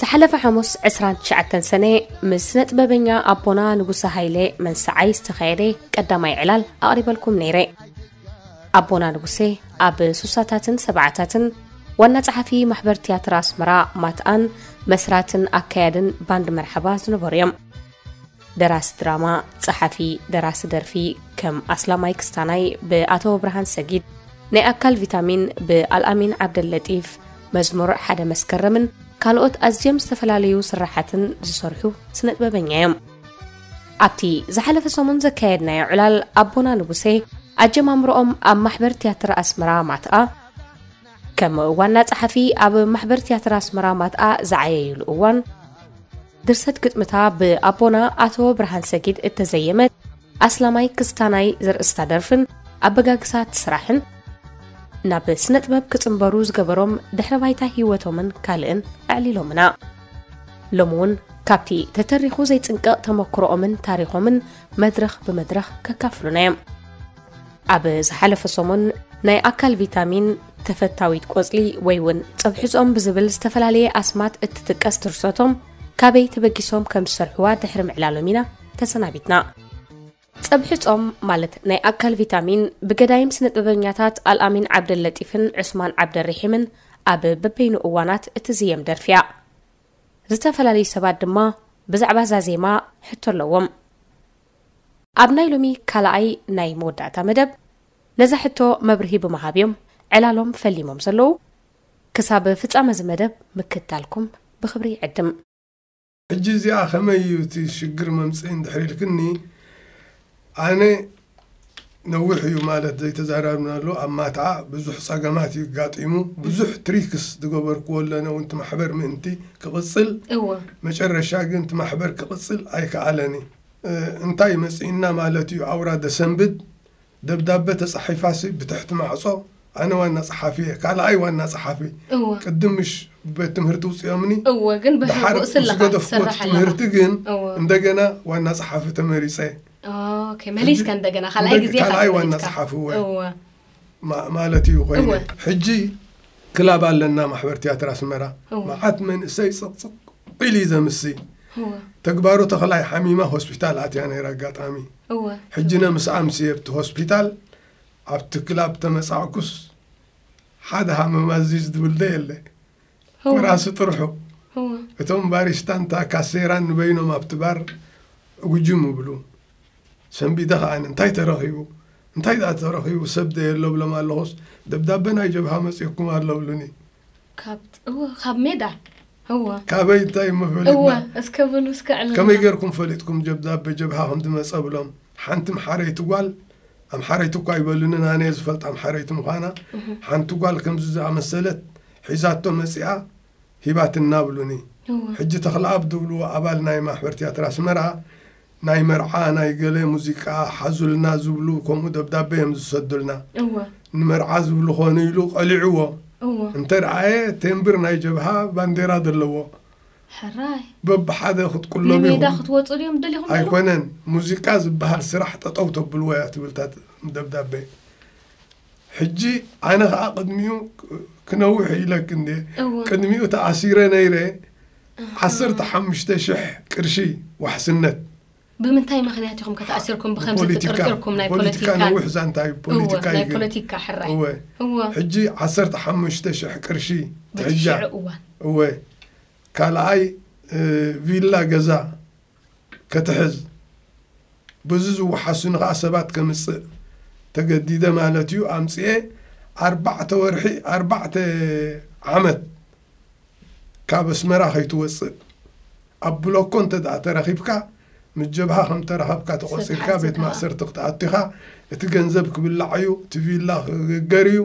ዝሓለፈ ሓሙስ 29 ሰነ ምስ ነጥበበኛ ኣቦና ንጉሰ ሃይለ መንሰዓይ ዝተኻየደ ቀዳማይ ዕላል ኣቕሪበልኩም ነይረ ኣቦና ንጉሴ ኣብ ሱሳታትን ሰብዓታትን ዋና ጸሓፊ ማሕበር ትያትር ኣስመራ ማትኣን መስራትን ኣካያድን ባንድ መርሓባ ዝነበሩ እዮም ደራሲ ድራማ ጸሓፊ ደራሲ ደርፊ ከም ኣስላማይ ክስታናይ ብኣቶ ብርሃን ሰጊድ ናይ ኣካል ቪታሚን ብኣልኣሚን ዓብደለጢፍ መዝሙር ሓደ መስከረምን ካልኦት ኣዝዮም ዝተፈላለዩ ስራሓትን ዝሰርሑ ስነጥበበኛ እዮም ኣብቲ ዝሓለፈ ሰሙን ዘካየድናዮ ዕላል ኣቦና ንጉሴ ኣጀማምርኦም ኣብ ማሕበር ትያትር ኣስመራ ማትኣ ከም ዋና ጸሓፊ ኣብ ማሕበር ትያትር ኣስመራ ማትኣ ዝዓየዩሉ እዋን ድርሰት ግጥምታ ብኣቦና ኣቶ ብርሃን ሰጊድ እተዘየመት ኣስላማይ ክስታናይ ዘርእስታ ደርፍን ኣበጋግሳት ስራሕን ናብ ስነ ጥበብ ክጽንበሩ ዝገበሮም ድሕረ ባይታ ህይወቶምን ካልእን ኣዕሊሎምና። ሎሚ እውን ካብቲ ተተሪኹ ዘይጽንቀቕ ተመክሮኦምን ታሪኾምን መድረኽ ብመድረኽ ከካፍሉና እዮም። ኣብ ዝሓለፈ ሰሙን ናይ ኣካል ቪታሚን ተፈታዊት ቆጽሊ ወይ እውን ጸብሕጾም ብዝብል ዝተፈላለየ ኣስማት እትጥቀስ ድርሰቶም ካበይ ተበጊሶም ከም ዝሰርሕዋ ድሕሪ ምዕላሎም ኢና ተሰናቢትና። ጸብሒ ጾም ማለት ናይ ኣካል ቪታሚን ብገዳይም ስነጥበበኛታት ኣልኣሚን ዓብደለጢፍን ዑስማን ዓብደሪሒምን ኣብ በበይኑ እዋናት እትዝየም ደርፊ እያ። ዝተፈላለዩ ሰባት ድማ ብዛዕባ እዛ ዜማ ሕቶ ኣለዎም። ኣብ ናይ ሎሚ ካልኣይ ናይ መወዳእታ መደብ ነዛ ሕቶ መብርሂ ብምሃብ እዮም ዕላሎም ፈሊሞም ዘለዉ። ክሳብ ፍጻመ እዚ መደብ ምክታልኩም ብኽብሪ ይዕድም። ሕጂ እዚኣ ከመይ እዩ እቲ ሽግር መምፅኢ እንድሕር ኢልክኒ ኣነ ነዊሕ እዩ ማለት ዘይተዛራርብናሉ ኣብ ማትዓ ብዙሕ ፀገማት እዩ ጋጢሙ ብዙሕ ትሪክስ ዝገበርክዎ ኣለነ እውን እቲ ማሕበር ምእንቲ ክቕፅል እወ መጨረሻ ግን እቲ ማሕበር ክቕፅል ኣይከኣለን እዩ እ፣ እንታይ መፅእና ማለት እዩ ኣውራ ደሰንብድ ደብዳበ ተጻሒፋሲ ብትሕቲ ማዕጾ ኣነ ዋና ጸሓፊ እየ ካልኣይ ዋና ጸሓፊ እወ ቅድም ምሽ ቤት ትምህርቲ ውጽኦምኒ እወ ግን ብሕቡእ ደሓር ምስ ስለኻ ገደፍኩዎ እቲ ትሰርሕ ኣለኻ ትምህርቲ ግን እወ እንደገና ዋና ጸሓፊ ተመሪጸ ኦኬ ሕጂ መሊስካ እንደገና ካልኣይ እንደግ- ግዜ ኢኻ ካልኣይ ዋና ተመሪጽካ ጸሓፊ እወ እወ ማ- ማለት እዩ ኮይነ እወ ሕጂ ክላብ ኣለና ማሕበር ትያትር ኣስመራ እወ መዓት መንእሰይ ጽቕጽቕ ኢሉ እዩ ዘምሲ እወ ተግባሩ ተኽላይ ሓሚማ ሆስፒታል ኣትያ ነይራ ኣጋጣሚ እወ ሕጂነ ምስ ኣምስየ ኣብቲ ሆስፒታል ኣብቲ ክላብ ተመጻዕኩስ ሓደ ሃመማ እዚ ዝብል ዶ የለ እወ ኮራሲ ጥርሑ እወ እቶም ባሪስታን እታ ካሴራን ንበይኖም ኣብቲ ባር ዕጉጅም ይብሉ ሰንቢደ ከኣ እንታይ ተረኺቡ እንታይ ደኣ ተረኺቡ ሰብ ዶ የለ እብሎም ኣለኹስ ደብዳበ ናይ ጀብሃ መጺኡኩም ኣሎ እብሉኒ ካብ እወ ካብ ሜዳ እወ ካበይ እንታይ እሞ እወ ፈሊጥና እስከ ብሉ እስከ ከመይ ዕልልና ጌርኩም ፈሊጥኩም ጀብዳበ ጀብሃ ከም ዝመጸ ብሎም ሓንቲ ኣምሓረይቲ ጓል ኣምሓረይቲ እኳ ኣይበሉንን ኣነ እየ ዝፈልጣ ኣምሓረይቲ ምዃና ሓንቲ ጓል ከምዚ ዝኣመሰለት ሒዛቶ መጺኣ ሂባትና ብሉኒ እወ ሕጂ ተኽለኣብ ዝብልዎ ኣባል ናይ ማሕበር ትያትር ኣስመራ ናይ መርዓ ናይ ገለ ሙዚቃ ሓዙልና ዝብሉ ከምኡ ደብዳበ እዮም ዝሰዱልና። እወ። ንመርዓ ዝብሉ ኮኑ ኢሉ ቀሊዕዎ እወ። እንተ ረኣየ ቴምብር ናይ ጀብሃ ባንዴራ ዘለዎ ሕራይ። በብሓደ ክትቁለቡ ንሜዳ ኢኹም። ክትወጹ ድዮም ደሊኹም ዘለኹም? ኣይኮነን ሙዚቃ ዝበሃል ስራሕ ጠጠው ተብልዎ እያ ትብል እታ ደብዳበ። ሕጂ ኣነ ከኣ ቅድሚኡ ክነውሕ ኢለኪ እንዴ እወ ቅድሚኡ ተኣሲረ ነይረ ዓሰርተ ሓሙሽተ ሽሕ ቅርሺ ዋሕስነት ብምንታይ ምኽንያት ኢኹም ከ ተኣሲርኩም ብኸምዚ ብፖለቲካ ተጠርጢርኩም ናይ ፖለቲካ ፖለቲካን ነዊሕ ዛንታ እዩ እወ ፖለቲካ ናይ እዩ ግን ፖለቲካ ሕራይ እወ እወ ሕጂ ዓሰርተ ሓሙሽተ ሽሕ ቅርሺ በቲ ትሕጃ ሽዑ እዋን እወ ካልኣይ እ፣ ቪላ ገዛ ከትሕዝ ብዙ ዝወሓሱኒ ከኣ ሰባት ከምጽእ ተገዲደ ማለት እዩ ኣምጺኤ ኣርባዕተ ወርሒ ኣርባዕተ ዓመት ካብ ኣስመራ ከይትወጽእ ኣብ ብሎኮ እንተ ተረኺብካ ምስ ጀብሃ ከም ተረኸብካ ተቖጺርካ ቤት ማእሰርቲ ክትኣቱ ኢኻ እቲ ገንዘብ ክብላዕ እዩ እቲ ቪላ ክግገር እዩ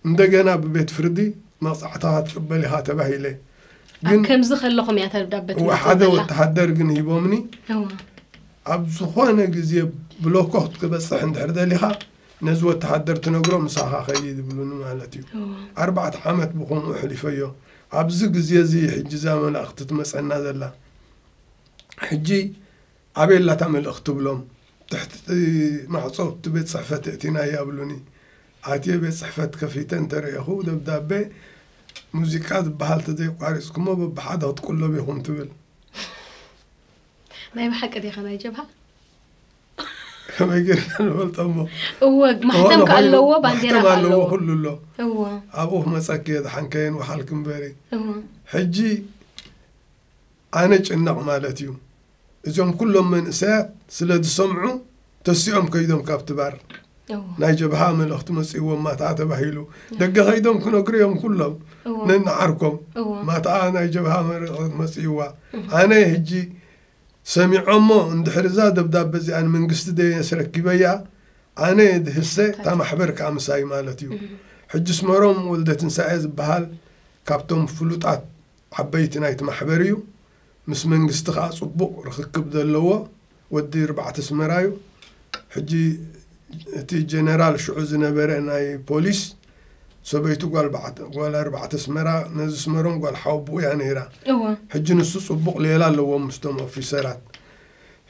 እንደገና ብቤት ፍርዲ መቕጻዕትኻ ትቕበል ኢኻ ተባሂለ። ኣብ ግን ከምዚ ከለኹም እያ እታ ደብዳበ እወ ትመጽእ ሓደ ዘላ። ወተሃደር ግን ሂቦምኒ እወ። ኣብ ዝኾነ ግዜ ብሎኮ ክትበጽሕ እንድሕር ደሊኻ ነዚ ወተሃደር ትነግሮ ምሳኻ ከይድ ይብሉኒ ማለት እዩ። እወ። ኣርባዕተ ዓመት ብኸምኡ ኣሕሊፈዮ። ኣብዚ ግዜ እዚ ሕጂ እዛ መልእኽቲ ትመጸና ዘላ ሕጂ ኣቤላ እታ መልእኽቲ ትብሎም ትሕቲ እቲ ማዕጾ እቲ ቤት ጽሕፈት የእቲናያ ብሉኒ። ኣትየ ቤት ጽሕፈት ከፊተ እንተ ርኤኹ ደብዳቤ ሙዚቃ ዝበሃል ተዘይኣቋሪጽኩሞ በብሓደ ክትቁለቡ ኢኹም ትብል። ናይ ብሓቂ ዲኻ ናይ ጀብሃ? ከመይ ጌርና ንፈልጦ እሞ እወ ዝኾነ ማሕተም ከ ኮይኑ ኣለዎ ባንዴራ ማሕተም ከ ኣለዎ ኣለዎ ኩሉ ኣሎ። እወ ኣብኡ ክመጸኪ እየ ደሓን ከየንውሓልኪ እምበሪ እወ ሕጂ ኣነ ጭነቕ ማለት እዩ እዞም ኩሎም መንእሰያት ስለ ዝሰምዑ ተሲኦም ከይዶም ካብቲ ባር ናይ ጀብሃ መልእኽቲ መፅእዎም ማትኣ ተባሂሉ ደገ ከይዶም ክነግሩ እዮም ኩሎም ነንዓርኮም ማትኣ ናይ ጀብሃ መልእኽቲ መፅእዋ ኣነ ህጂ ሰሚዖሞ እንድሕር እዛ ደብዳበ እዚኣ ንመንግስቲ ደ ኣስረኪበያ ኣነ ድህሰ እታ ማሕበር ከዓ ምሳይ ማለት እዩ ሕጂ ስመሮም ወልደ ትንሳኤ ዝበሃል ካብቶም ፍሉጣት ዓበይቲ ናይቲ ማሕበር እዩ ምስ መንግስቲ ከኣ ጽቡቅ ርኽክብ ዘለዎ ወዲ ርባዕተ ስመራ እዩ ሕጂ እቲ ጀነራል ሽዑ ዝነበረ ናይ ፖሊስ ሰበይቱ ጓል ኣርባዕተ ስመራ ነዚ ስመሮም ጓል ሓወቡኡ እያ ነይራ እወ ሕጂ ንሱ ጽቡቅ ሌላ ኣለዎም ምስቶም ኦፊሰራት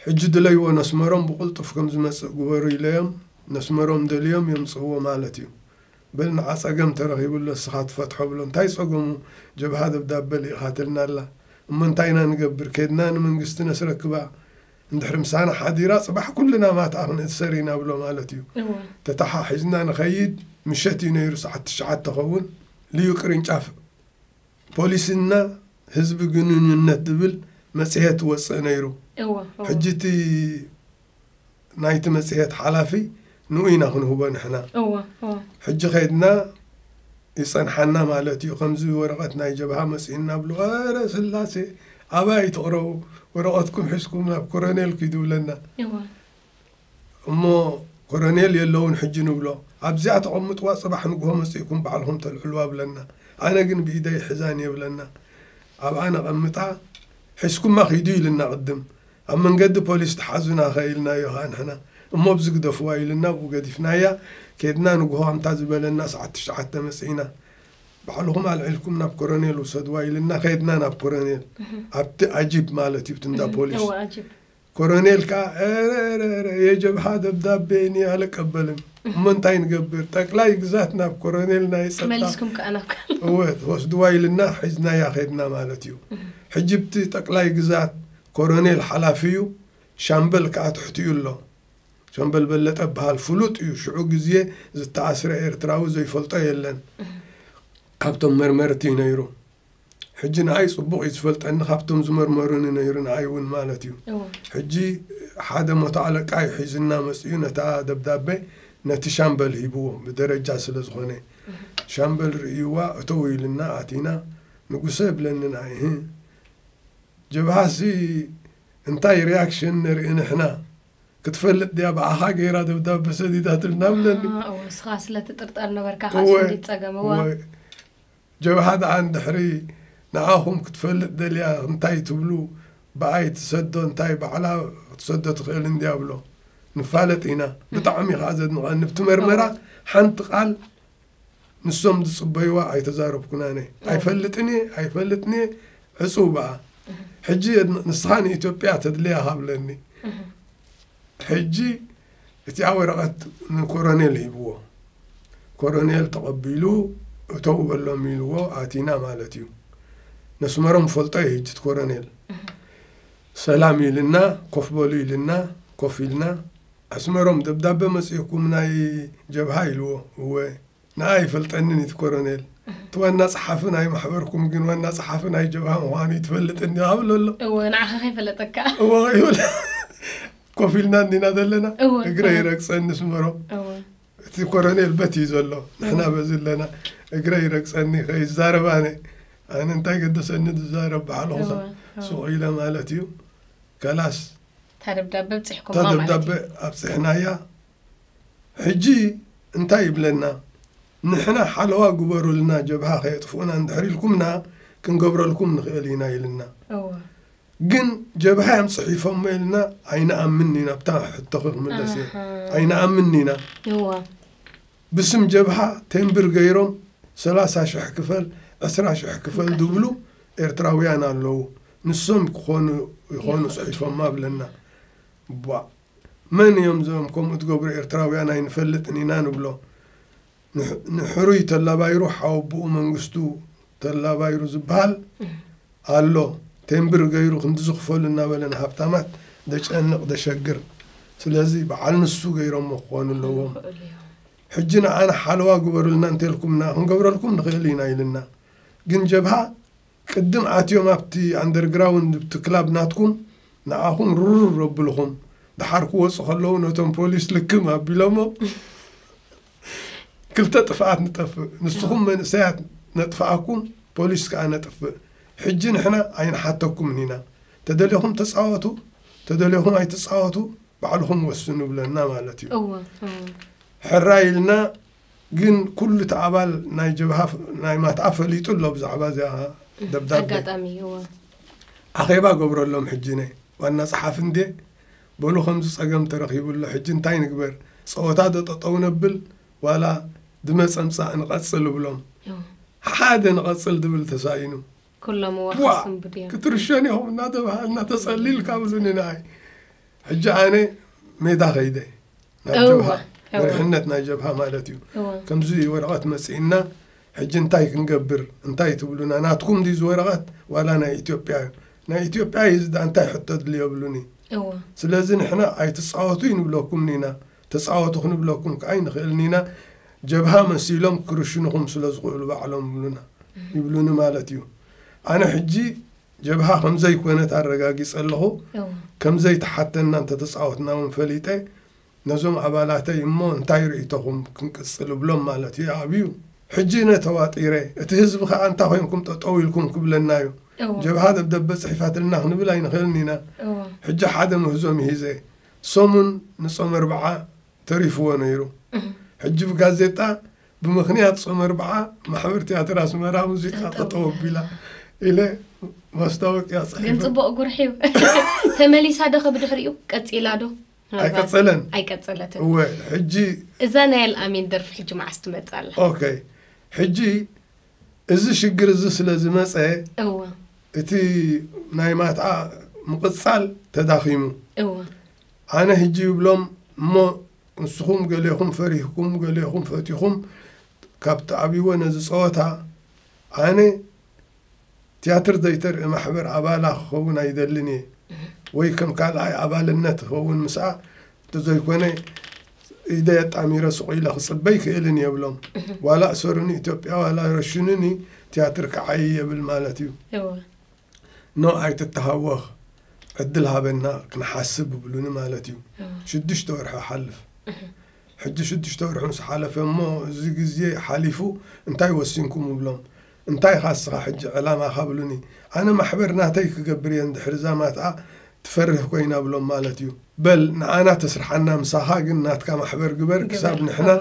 ሕጂ ድለይዎ ነስመሮም ብቁልጡፍ ከምዝመጽእ ግበሩ ኢለዮም ነስመሮም ደልዮም የምጽእዎ ማለት እዩ በል ንዓ ጸገም ተረኺቡ ኣሎ እስኻ ትፈትሖ ብሎ እንታይ ጸገሙ ጀብሃ ደብዳበ ሊኢኻ ትልና ኣላ እሞ እንታይ ኢና ንገብር ከድና ንመንግስቲ ነስረክባ እንድሕሪ ምሳና ሓዲራ ጽባሕ ኩልና ማትኣ ክንእሰር ኢና ብሎ ማለት እዩ እወ ተታሓሒዝና ንኸይድ ምሸት እዩ ነይሩ ሰዓት ትሽዓተ ኸውን ልዩ ቅርንጫፍ ፖሊስና ህዝቢ ግንኙነት ዝብል መጽሄት ወጽእ ነይሩ እወ እወ ሕጂ እቲ ናይቲ መጽሔት ሓላፊ ንኡ ኢና ክንህቦ ንሕና። እወ እወ። ሕጂ ከድና ይጸንሓና ማለት እዩ ከምዚ ወረቐት ናይ ጀብሃ መጺኡና ብሉ ኣረ ስላሴ ኣበይ ኣይትቕረቡ ወረቐትኩም ሒዝኩም ናብ ኮረኔል ኪዱ ብለና። እወ። እሞ ኮረኔል የለውን ሕጂ ንብሎ ኣብዚኣ ተቐምጥዋ ጽባሕ ንግሆ መጺእኩም ባዕልኹም ተልዕልዋ ብለና። ኣነ ግን ብኢደይ ይሕዛን እየ ብለና ኣብኣ ነቐምጣ ሒዝኩማ ኪዱ ኢሉና ቅድም ኣብ መንገዲ ፖሊስ ትሓዙና ከ ኢልናዮ ከኣ ንሕና እሞ ኣብዚ ግደፍዋ ኢሉና ኣብኡ ገዲፍናያ ኬድና ንግሆ ኣንታ ዝበለና ሰዓት ትሽዓተ መጺእና ባዕልኹም ኣልዒልኩም ናብ ኮረኔል ውሰድዋ ኢልና ከድና ናብ ኮረኔል ኣብቲ ኣጂፕ ማለት እዩ እንዳ ፖሊስ ኮረኔል ከዓ ረረረ የጀብሓ ደብዳቤ እኒ ኣለቀበልም እሞ እንታይ ንገብር ጠቅላይ ግዛት ናብ ኮረኔል ናይ ጸጥታ ወስድዋ ኢልና ሒዝናያ ከድና ማለት እዩ ሕጅብቲ ጠቅላይ ግዛት ኮረኔል ሓላፊ እዩ ሻምበል ከኣ ትሕቲኡ ኣሎ ሻምበል በለጠ በሃል ፍሉጥ እዩ ሽዑ ግዜ ዝተኣስረ ኤርትራዊ ዘይፈልጦ የለን ካብቶም መርመርቲ እዩ ነይሩ ሕጂ ንኣይ ጽቡቕ እዩ ዝፈልጠኒ ካብቶም ዝመርመሩኒ ነይሩ ንኣይ እውን ማለት እዩ ሕጂ ሓደ ሞቶ ኣለቃ እዩ ሒዝና መፅኡ ነታ ደብዳቤ ነቲ ሻምበል ሂብዎ ብደረጃ ስለ ዝኾነ ሻምበል ርእይዋ እተው ኢልና ኣቲና ንጉሰ የብለንን ኣይህ ጀብሃ ሲ እንታይ ሪኣክሽን ነርኢ ንሕና ክትፈልጥ ድያ ብኣኻ ገይራ ደብዳበ ሰዲዳትልና ብለኒ ኣ እወ ንስኻ ስለ ትጥርጠር ነበርካ እወ ካስ እንዲ ጸገም እወ እወ ጀብሃ ደኣ እንድሕሪ ንዓኹም ክትፈልጥ ደልያ እንታይ ትብሉ ብኣይ ትሰዶ እንታይ ባዕላ ክትሰዶ ትኽእል እንድያ ብሎ ንፋለጥ ኢና ብጣዕሚ ከኣ ዘድንቐኒ ብቲ መርመራ ሓንቲ ቃል ንሶም ዝጽበይዋ ኣይተዛረብኩን ኣነ ኣይፈልጥን እየ ኣይፈልጥን እየ ዕጹው በኣ ሕጂ ንስኻ ንኢትዮጵያ ተድልያ ሃብለኒ ሕጂ እቲኣ ወረቐት ንኮሮኔል ሂብዎ ኮሮኔል ተቐቢሉ እተው በሎም ኢልዎ ኣቲና ማለት እዩ ነስመሮም ፈልጦ እዩ ህጅት ኮሮኔል ሰላም ኢልና ኮፍ በሉ ኢልና ኮፍ ኢልና ኣስመሮም ደብዳበ መጺኡኩም ናይ ጀብሃ ኢልዎ እወ ንኣ ኣይፈልጠንን ኢቲ ኮሮኔል እቲ ዋና ጸሓፊ ናይ ማሕበርኩም ግን ዋና ጸሓፊ ናይ ጀብሃ ምዃኑ ይትፈልጥን ዲኻ ብሎ ኣሎ እወ ንዓኻ ከይፈለጠካ እወ ይብል ኮፍ ኢልና እንዲና ዘለና እወ፣ እግረ እወ። ይረግጸኒ ኣስመሮም እወ እቲ ኮረኔል በት እዩ ዘሎ ንሕና በዚ ኣለና እግረ ይረግጸኒ ከይዛረብ ኣነ ኣነ እንታይ ገደሰኒ ዝዛረብ ባዕልኹሳ እወ፣ እወ። ሱቕ ኢለ ማለት እዩ ከላስ እታ ደብዳበ ኣብጺሕኩማ እታ ማለት ደብዳበ እዩ። ኣብጺሕናያ ሕጂ እንታይ ይብለና ንሕና ሓለዋ ግበሩልና ጀብሃ ከየጥፍኡና እንድሕር ኢልኩምና ክንገብረልኩም ንኽእል ኢና ኢልና እወ። ግን ጀብሃ እዮም ጽሒፎሞ ኢልና ኣይንኣምን ኢና ኣብታ ሕቶኺ ክምለስ እየ ኣሃ። ኣይንኣምን ኢና እወ። ብስም ጀብሃ ቴምብር ገይሮም ሰላሳ ሽሕ ክፈል ዕስራ ሽሕ ክፈል ዝብሉ ኤርትራውያን ኣለዉ ንሶም ክኾኑ ይኾኑ ጽሒፎማ ብለና እባ መን እዮም እዞም ከምኡ ትገብሩ ኤርትራውያን ኣይንፈልጥን ኢና ንብሎ ንሕሩይ ተላባይሩ ሓወብኡ መንግስቱ ተላባይሩ ዝበሃል ኣሎ ቴምብር ገይሩ ክንዲ ዝኽፈሉ እናበለ ንሃብታማት ደጨንቕ ደሸግር ስለዚ በዓል ንሱ ገይሮሞ ክኾኑ ኣለዎም ሕጂ ንዓና ሓለዋ ግበሩልና እንተልኩምና ክንገብረልኩም ንኽእል ኢና ኢልና ግን ጀብሃ ቅድም ኣትዮም ኣብቲ ኣንደርግራውንድ ኣብቲ ክላብ ናትኩም ንዓኹም ርርር ኣብልኹም ድሓር ክወጹ ከለዉ ነቶም ፖሊስ ልክም ኣቢሎሞም ክልተ ጥፍኣት ንጠፍእ ንስኹም መንእሰያት ነጥፍኣኩም ፖሊስ ከኣ ነጥፍእ ሕጂ ንሕና ኣይንሓተኩምን ኢና ተደሌኹም ተጻወቱ ተደሌኹም ኣይትጻወቱ ባዕልኹም ወስኑ ይብለና ማለት እዩ ሕራይ ኢልና ግን ኩሉ እቲ ኣባል ናይ ጀብሃ ናይ ማትኣ ፈሊጡ ኣሎ ብዛዕባ እዚኣ ደብዳቤ ኣጋጣሚ እወ ኣኼባ ገብረሎም ሕጂ ን ዋና ጸሓፊ እንድየ በሉ ከምዚ ጸገም ተረኺቡ ኣሎ ሕጂ እንታይ ንግበር ጸወታ ዶ ጠጠው ነብል ዋላ ብመጸምጻእ ንቐጽል እብሎም እወ ሓሓደ ንቐጽል ድብል ተሳኢኑ ኩሎም እዋ ዋ ክስንብዱ እዮም ክትርሸን ኢኹም እናተባሃልና ተጸሊልካ ብሉኒ ንኣይ ሕጂ ኣነ ሜዳ ከይደ ናብ እወ፣ ጀብሃ እወ። መሪሕነት ናይ ጀብሃ ማለት እዩ እወ። ከምዚ ወረቐት መጺእና ሕጂ እንታይ ክንገብር እንታይ ትብሉና ናትኩም ድዩ እዚ ወረቐት ዋላ ናይ ኢትዮጵያ እዩ ናይ ኢትዮጵያ እዩ እዚ ድኣ እንታይ ሕቶ ኣድልዮ ብሉኒ እወ ስለዚ ንሕና ኣይትጻወቱ ይንብለኩም ኢና ተጻወቱ ክንብለኩም ከኣ ኣይንኽእልን ኢና፣ ጀብሃ መሲሎም ክርሽኑኹም ስለ ዝኽእሉ ባዕሎም ይብሉና ይብሉኒ ማለት እዩ። ኣነ ሕጂ ጀብሃ ከም ዘይኮነት ኣረጋጊጸ ኣለኹ፣ ከም ዘይተሓተና እንተ ተጻወትና እውን ፈሊጠ፣ ነዞም ኣባላተይ እሞ እንታይ ርእይቶኹም ክንቅጽል እብሎም ማለት እዩ፣ ይኣብዩ። ሕጂ እነ ተዋጢረ፣ እቲ ህዝቢ ከኣ እንታይ ኮይንኩም ጠጠው ኢልኩም ክብለና እዩ፣ ጀብሃ ደብደበ ጽሒፋትልና ክንብል ኣይንኽእልን ኢና፣ ሕጂ ሓደ ምህዞ ምሂዘ፣ ሰሙን ንጾመ ኣርብዓ ተሪፍዎ ነይሩ። ሕጂ ብጋዜጣ ብምኽንያት ጾመ ኣርብዓ ማሕበር ትያትር ኣስመራ ሙዚቃ ጠጠው ኣቢላ ኢለ ማስታወቅያ ጽሒፈ። ግን ጽቡቕ ጉርሒ እዩ። ተመሊሳ ዶ ብድሕሪኡ ቀጺላ ዶ? ኣይቀጸለን ኣይቀጸለትን። እወ ሕጂ እዛ ናይ ኣልኣሚን ደርፊ ሕጂ መዓስ ትመጽእ ኣላ? ኦኬ ሕጂ እዚ ሽግር እዚ ስለ ዝመጸ እወ እቲ ናይ ማትኣ ምቕጻል ተዳኺሙ። እወ። ኣነ ህጂ ይብሎም እሞ ንስኹም ገሌኹም ፈሪህኩም ገሌኹም ፈቲኹም ካብ ትኣብይዎ ነዚ ጸወታ ኣነ ትያትር ዘይተርኢ ማሕበር ኣባላ ክኸውን ኣይደልን እየ ወይ ከም ካልኣይ ኣባልነት ይኸውን ምስኣ እንተዘይኮነ ኢደይ ኣጣሚረ ሱቕ ኢለ ክፅበ ኣይክእልን እየ ብሎም ዋላ እሰሩኒ ኢትዮጵያ ዋላ ረሽኑኒ ትያትር ክዓይ የብል ማለት እዩ እወ ኖ ኣይትተሃወኽ ዕድል ሃበና ክንሓስብ ይብሉኒ ማለት እዩ ሽዱሽተ ወርሒ ይሓልፍ ሕጂ ሽዱሽተ ወርሒ ምስ ሓለፈ እሞ እዚ ግዜ ሓሊፉ እንታይ ወሲንኩም እብሎም እንታይ ኢኻ እስኻ ሕጂ ዕላማኻ ብሉኒ ኣነ ማሕበር ናተይ ክገብር እየ እንድሕሪ እዛ ማትኣ ትፈርህ ኮይና ብሎም ማለት እዩ በል ንዓና ተስርሓና ምሳኻ ግን ናትካ ማሕበር ግበር ክሳብ ንሕና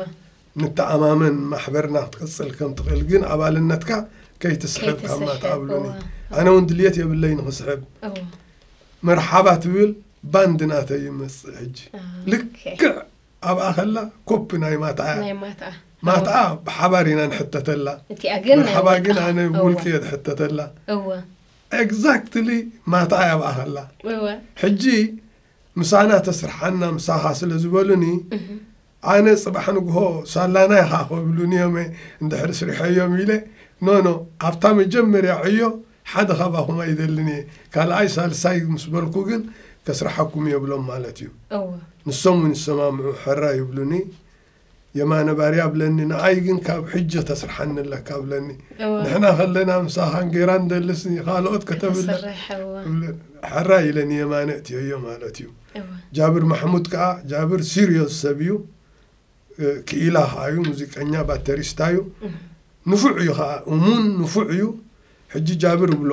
ንተኣማመን ማሕበርና ክትቅጽል ከም ትኽእል ግን ኣባልነትካ ከይትስሕብ ካብ ማትኣ ብሉኒ ኣነ እውን ድልየት የብለይ ንኽስሕብ መርሓባ ትብል ባንድ ናተይ ይመጽእ ሕጂ ልክዕ ኣብኣ ከላ ኮፒ ናይ ማትኣ እያ ናይ ማትኣ ማትኣ ብሓባር ኢና ንሕተተላ እቲኣ ግን ናይ መርሓባ ግን ውልቃ። ኣነ እወ፣ ብውልቂ እየ ዝሕተተላ እወ ኤግዛክትሊ ማትኣ እያ ኣብኣ ከላ እወ ሕጂ ምሳና ተስርሓና ምሳኻ ስለ ዝበሉኒ ኣነ ፅባሕ ንግሆ ሳላና ኢኻ ክብሉኒ እዮመ እንድሕር ስሪሐዮም ኢለ ኖኖ ኣብታ መጀመርያ ዕዮ ሓደ ካባኹም ኣይደልን እየ ካልኣይ ሳልሳይ ምስ በልኩ ግን ከስርሓኩም የብሎም ማለት እዩ እወ ንሶም ውን ይሰማምዑ ሕራይ ይብሉኒ የማነ ባርያ ብለኒ ንዓይ ግን ካብ ሕጂ ተስርሓኒ ኣለካ ብለኒ እወ ንሕና ከለና ምሳኻን ጌራ ንደልስ ንኻልኦት ከተብለ ከተስርሕ እወ እብለ- ሕራይ ኢለ ንየማነ እትዮዮ ማለት እዩ እወ ጃብር ማሕሙድ ከዓ ጃብር ሲሪዮስ ሰብ እዩ ክኢላ ከኣ እዩ ሙዚቀኛ ባተሪስታ እዩ ንፉዕ እዩ ከኣ እሙን ንፉዕ እዩ ሕጂ ጃብር እብሎ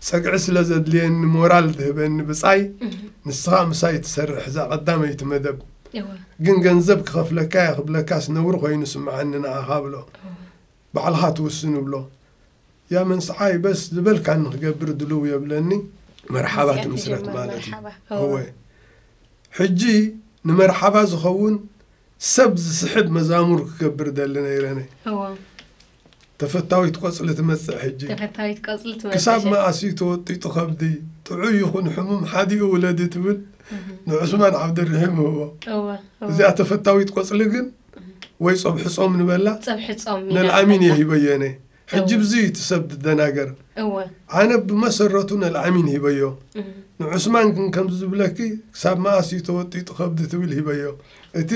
ጸግዒ ስለ ዘድልየኒ ሞራል ትህበኒ ብጻይ ንስኻ ምሳይ ትሰርሕ እዛ ቀዳመይቲ መደብ ግን ገንዘብ ክኸፍለካ እየ ክብለካስ ነውሪ ኮይኑ ስምዓኒ ንዓኻ ብሎ ባዕልኻ ትውስን እብሎ ያ መንስዓይ በስ ዝበልካኒ ክገብር ድልው የብለኒ መርሓባ ትምስረት ማለት እዩ እወ ሕጂ ንመርሓባ ዝኸውን ሰብ ዝስሕብ መዛሙር ክገብር ደሊ ነይረ ነ ተፈታዊት ቆፅሊ ትመፅእ ሕጂ ክሳብ መኣስ እዩ ተወጢጡ ከብዲ ጥዑይ ይኹን ሕሙም ሓዲኡ ውለዲ ትብል ንዑስማን ዓብደርሒም ህቦ እዚኣ ተፈታዊት ቆፅሊ ግን ወይ ጸብሒ ጾም ንበላ ጸብሒ ጾም ነልዓሚን እየ ሂበዮ እነ ሕጂ ብዚ እዩ እቲ ሰብ ዝደናገር ኣነ ብመሰረቱ ነልዓሚን ሂበዮ ንዑስማን ግን ከምዚ ዝብለኪ ክሳብ መኣስ እዩ ተወጢጡ ከብዲ ትብል ሂበዮ እቲ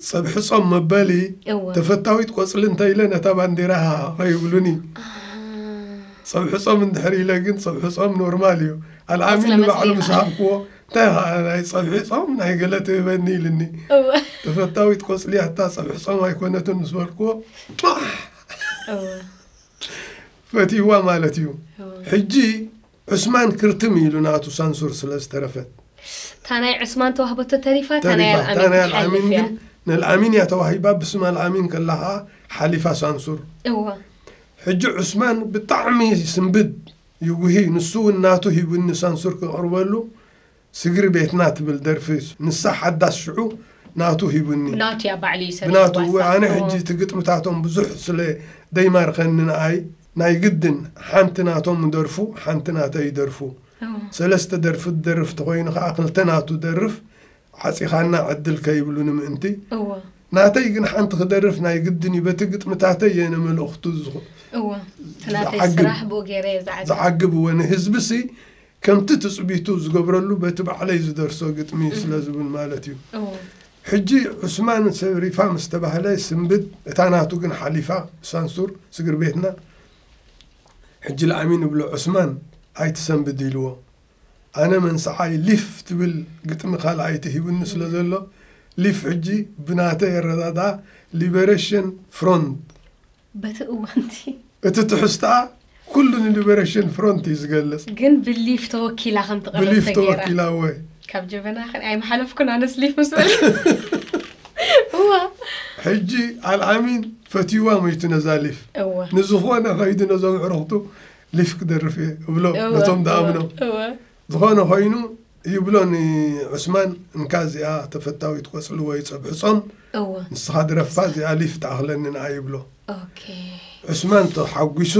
ጸብሒ ጾም መበሊ ተፈታዊት ቆጽሊ እንተ ኢለ ነታ ባንዴራ ሃሃቐ ይብሉኒ ጸብሒ ጾም እንድሕር ኢለ ግን ጸብሒ ጾም ኖርማል እዩ ኣልዓሚን ንባዕሉ ምስ ሃብክዎ እንታይ ኸኣ ናይ ጸብሒ ጾም ናይ ገለ ትህበኒ ኢልኒ እወ ተፈታዊት ቆጽሊ ኣታ ጸብሒ ጾም ኣይኮነትን ምስ በልክዎ ጧሕ እወ ፈትይዋ ማለት እዩ እወ ሕጂ ዑስማን ክርትም ኢሉ ናቱ ሳንሱር ስለ ዝተረፈት እታ ናይ ዑስማን ተዋህበቶ ተሪፋ እታ ናይ ተሪፋ እታ ናይ ኣልኣሚን ክትሓልፍ ኣልዓሚን እያ ግን ንኣልዓሚን እያ ተዋሂባ ብስም ኣልዓሚን ከላ ኸኣ ሓሊፋ ሳንሱር እወ ሕጂ ዑስማን ብጣዕሚ ስንብድ ይጉሂ ንሱ ውን ናቱ ሂቡኒ ሳንሱር ክቅርበሉ ስግሪ ቤትና ትብል ደርፊ ንሳ ሓዳስ ሽዑ ናቱ ሂቡኒ ናቱ እያ ባዕሉ እዩ ሰሪሕዋ ብናቱ እወ ኣነ እሳ ሕጂ እቲ ግጥምታቶም ብዙሕ ስለ ደይማርኸኒ ንኣይ ናይ ግድን ሓንቲ ናቶም እደርፉ ሓንቲ ናተይ እደርፉ ኦው ሰለስተ ደርፊ ዝደርፍ ተኾይኑ ከኣ ክልተ ናቱ እደርፍ ዓጺኻና ዕድል ከይብሉኒ ምእንቲ እወ ናተይ ግን ሓንቲ ክደርፍ ናይ ግድን እዩ በቲ ግጥምታተይ እየ ንመልእኽቱ ዝኹ- እወ እቲ ናተይ ዝዓግብ- ስራሕ ብኡ ገይረ እየ ዝዓግብ ዝዓግብ እወ ንህዝቢሲ ከምቲ ትጽቢቱ ዝገብረሉ በቲ ባዕለይ ዝደርሶ ግጥሚ ስለ ዝብል ማለት እዩ እወ ሕጂ ዑስማን ሰብ ሪፋ ምስ ተባህለ ስንብድ እታ ናቱ ግን ሓሊፋ ሳንሱር ስግር ቤትና ሕጂ ላእሚ ንብሎ ዑስማን ኣይትሰንብድ ኢልዎ ኣነ መንስዓይ ሊፍ ትብል ግጥሚ ካልኣይ ተሂቡኒ ስለ ዘሎ ሊፍ ሕጂ ብናተይ ኣረዳድኣ ሊበረሽን ፍሮንት በቲ እዋንቲ። እቲ ትሕዝትኣ ኩሉ ንሊበረሽን ፍሮንት እዩ ዝገልጽ። ግን ብሊፍ ተወኪላ ከም ትቐርብ ተገይራ። ብሊፍ ተወኪላ እወ። ካብ ጀበና ክን ኣይምሓለፍኩን ኣነስ ሊፍ ምስ በልኩ እዋ ሕጂ ኣልኣሚን ፈትይዋ ሞይቱ ነዛ ሊፍ። እወ። ንዝኾነ ከይዱ ነዞም ኣዕሩኽቱ ሊፍ ክደርፍ እየ እብሎ ነቶም ድኣምኖም ዝኾነ ኮይኑ ይብሎ ንዑስማን እንካ እዚኣ ተፈታዊት ቆፅሊ ወይ ፀብሒ ፆም ንስኻ ድረፋ እዚኣ ሊፍ ትኣኽለኒ ንኣ ይብሎ ዑስማን ተሓጒሱ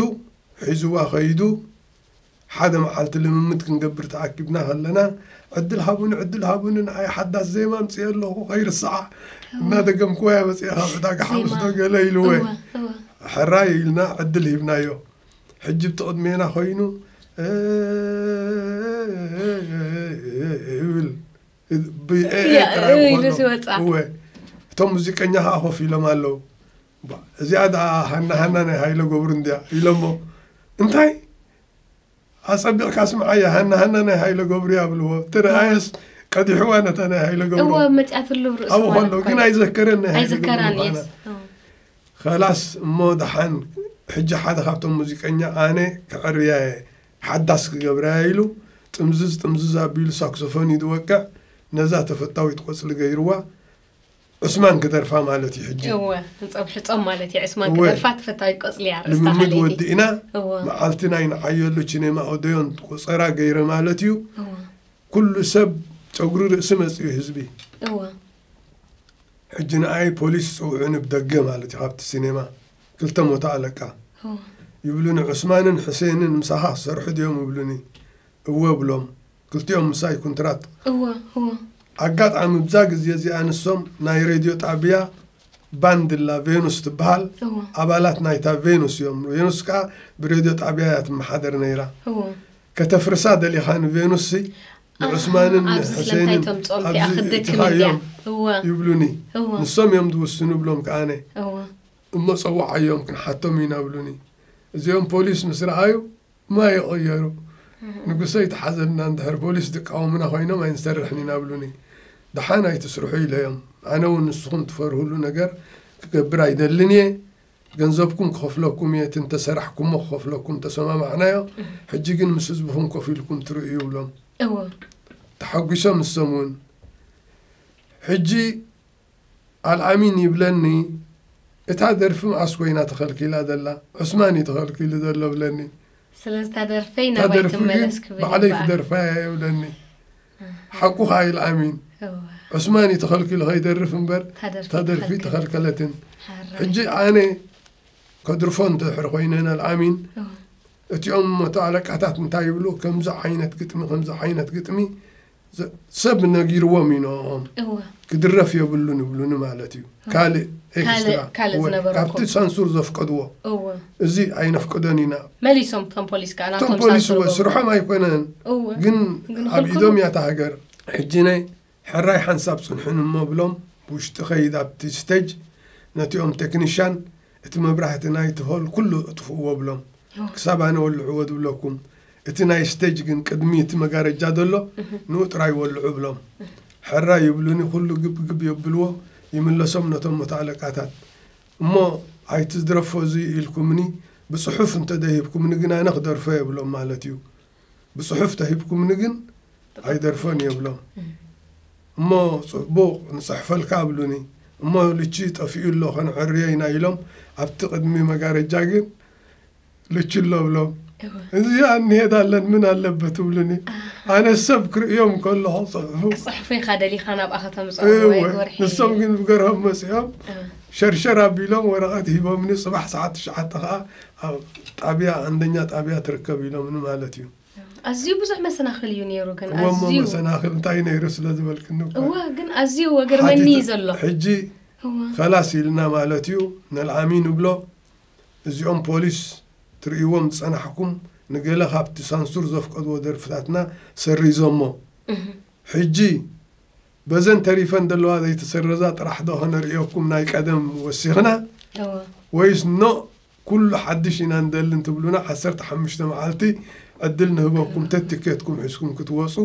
ሒዝዋ ከይዱ ሓደ መዓልቲ ልምምድ ክንገብር ተኣኪብና ከለና ዕድል ሃቡኒ ዕድል ሃቡኒ ንኣይ ሓዳስ ዜማ ምፅኦ ኣለኹ ከይርስዓ እናደገምክዋ እያ መፅኣ ካብ ዕዳጋ ሓሙስ ዶ ገለ ኢልወ ሕራይ ኢልና ዕድል ሂብናዮ ሕጂ ብቲ ቅድሜና ኮይኑ ብል እቶም ሙዚቀኛ ከዓ ኮፍ ኢሎም ኣለው እዚኣ ደ ሃና ሃና ናይ ሃይለ ገብሩ እንድያ ኢሎሞ እንታይ ኣፀቢቕካ ስምዓያ ሃና ሃና ናይ ሃይለ ገብሩ ያብልዎ ተደኣየስ ቀዲሕዋ ነታ ናይ ሃይለ ገብሩ ኣብኡ ከሎ ግን ኣይዘከረን ናይ ሃይለ ገብሩ ኸላስ እሞ ደሓን ሕጂ ሓደ ካብቶም ሙዚቀኛ ኣነ ከዐርያየ ሓዳስ ክገብራየ ኢሉ ጥምዝዝ ጥምዝዝ ኣቢሉ ሳክሶፎን እዩ ዝወቅዕ ነዛ ተፈታዊት ቆጽሊ ገይርዋ ዑስማን ክደርፋ ማለት እዩ ሕጂ እወ ህንጾም ሕጾም ማለት እዩ ዑስማን እወ። ክደርፋ ተፈታዊት ቆጽሊ እያ ኣርእስታ ልምምድ ሃለይቲ ወዲእና እወ መዓልቲ ናይ ንዓየሉ ቺኔማ ኦደዮን ቆጸራ ገይረ ማለት እዩ እወ ኩሉ ሰብ ጨጉሪ ርእሲ መጽኡ ህዝቢ እወ ሕጂ ንኣይ ፖሊስ ይጸውዑኒ ብደገ ማለት እዩ ካብቲ ሲኔማ ክልተ ሞታ ኣለቃ ይብሉኒ ዑስማንን ሕሴንን ምሳኻ ክሰርሑ ድዮም ይብሉኒ እወ ብሎም ክልቲኦም ምሳይ ኩንትራት ኣጋጣሚ ብዛ ግዜ እዚኣ ንሶም ናይ ሬድዮ ጣብያ ባንድላ ቬኑስ ትበሃል ኣባላት ናይታ ቬኑስ እዮም ቬኑስ ከዓ ብሬድዮ ጣብያ እያ ትመሓደር ነይራ ከተፍርሳ ደሊኻ ንቬኑስ ንዑስማንን ሕሴንን ኣብዚእትኻዮም ይብሉኒ ንሶም እዮም ዝውስኑ ብሎም ከኣነ እሞ ፀዋዓዮም ክንሓቶም ኢና ብሉኒ እዚኦም ፖሊስ ምስ ረኣዩ ማይ ይቐየሩ ንጉሰ ይትሓዘልና እንድሕር ፖሊስ ዝቃወሙና ኮይኖም ኣይንሰርሕን ኢና ብሉኒ ደሓን ኣይትስርሑ ኢለዮም ኣነ እውን ንስኹም ትፈርህሉ ነገር ክገብር ኣይደልን እየ ገንዘብኩም ክኸፍለኩም እየ እቲ እንተሰራሕኩሞ ክኸፍለኩም ተሰማማዕናዮ ሕጂ ግን ምስ ህዝብኹም ኮፍ ኢልኩም ትርእዩ ይብሎም እዎ ተሓጒሶም ንሶም እውን ሕጂ ኣልኣሚን ይብለኒ እታ ደርፊ መዓስ ኮይና ተኸልኪላ ዘላ ዑስማን እዩ ተኸልኪሉ ዘሎ ብለኒ ስለዚ እታ ደርፈይ እታ ናባይ ደርፊ ግን ትመለስ ክብል ባዕለይ ይበሃል ክደርፋ እየ ይብለኒ ሓቁ ከኣ ኢላ ኣሚን ዑስማን እዩ ተኸልኪሉ ከይደርፍ እምበር እታ ደርፊ ኣይተኸልከለትን ሕጂ ኣነ ከድርፎ እንተድሕር ኮይነ ንኣልኣሚን እቲኦም መቶ ኣለቃታት እንታይ ይብሉ ከምዚ ዓይነት ግጥሚ ከምዚ ዓይነት ግጥሚ ሰብ ነጊርዎም ኢኖኦም ክድረፍ የብሉን ይብሉኒ ማለት እዩ ካልእ ኤክስትራ ካልእ- ካልእ ወይ ዝነበረኩም። ካብቲ ሳንሱር ዘፍቀድዎ እወ እዚ ኣይነፍቅዶን ኢና መሊሶም እቶም ፖሊስ ከዓ እቶም ናቶም ፖሊስ ሳንሱር እወ ገቡ። ስርሖም ኣይኮነን እወ ግን ግን ኣብ ክልክሉ። ኢዶም እያ እታ ሃገር ሕጂ ናይ ሕራይ ሓንሳብ ፅንሑን እሞ ብሎም ብውሽጢ ከይድ ኣብቲ ስተጅ ነቲኦም ቴክኒሻን እቲ መብራህቲ ናይቲ ሆል ኩሉ እጥፍእዎ ብሎም ክሳብ ኣነ ወልዕዎ ዝብለኩም እቲ ናይ ስቴጅ ግን ቅድሚ እቲ መጋረጃ ዘሎ ንኡ ጥራይ ወልዑ ብሎም ሕራይ ይብሉኒ ኩሉ ግብ ግብ የብልዎ ይምለሶም ነቶም መቶ ኣለቃታት እሞ ኣይትዝድረፎ እዙይ ኢልኩምኒ ብፅሑፍ እንተዘይሂብኩምኒ ግን ኣነ ክደርፎ የብሎም ማለት እዩ ብጽሑፍ ተሂብኩምኒ ግን ኣይደርፎን እየ እብሎም እሞ ጽቡቕ ንጽሕፈልካ ኣብሉኒ እሞ ልቺ ጠፊኡ ኣሎ ከነዕርዮ ኢና ኢሎም ኣብቲ ቅድሚ መጋረጃ ግን ልቺ ኣሎ እብሎም እዚ ኣንሄዳለን ምን ኣለበት ትብሉኒ ኣነ ሰብ ክርእዮም ከለኹ ፅሑፉ ክፅሕፉ ኢኻ ደሊኻ ናብኣ ከተምፅኦም ንሶም ግን ብገርሆም መፅኦም ሸርሸር ኣቢሎም ወረቐት ሂቦምኒ ፅባሕ ሰዓት ትሽዓተ ከዓ ኣብ ጣብያ ኣንደኛ ጣብያ ትርከብ ኢሎምኒ ማለት እዩ። ኣዝዩ ብዙሕ መሰናኽል እዩ ነይሩ ግን እወ እሞ ኣዝዩ መሰናኽል እንታይ ነይሩ ስለ ዝበልክኒ እኮ እወ ግን ኣዝዩ ወገርመኒ እዩ ሓቲተ- ዘሎ ሕጂ እወ ከላስ ኢልና ማለት እዩ ነልዓሚ ንብሎ እዚኦም ፖሊስ ትርእይዎም ዝጸናሕኩም ንገለ ካብቲ ሳንሱር ዘፍቀድዎ ደርፍታትና ሰሪዞሞ እህ ሕጂ በዘን ተሪፈን ዘለዋ ዘይተሰረዛ ጥራሕ ዶ ከነርእየኩም ናይ ቀደም ወሲኽና እወ ወይስ ኖእ ኩሉ ሓድሽ ኢና ንደሊ እንትብሉና ዓሰርተ ሓሙሽተ መዓልቲ ዕድል ንህበኩም ተቲኬትኩም ሒዝኩም ክትወጹ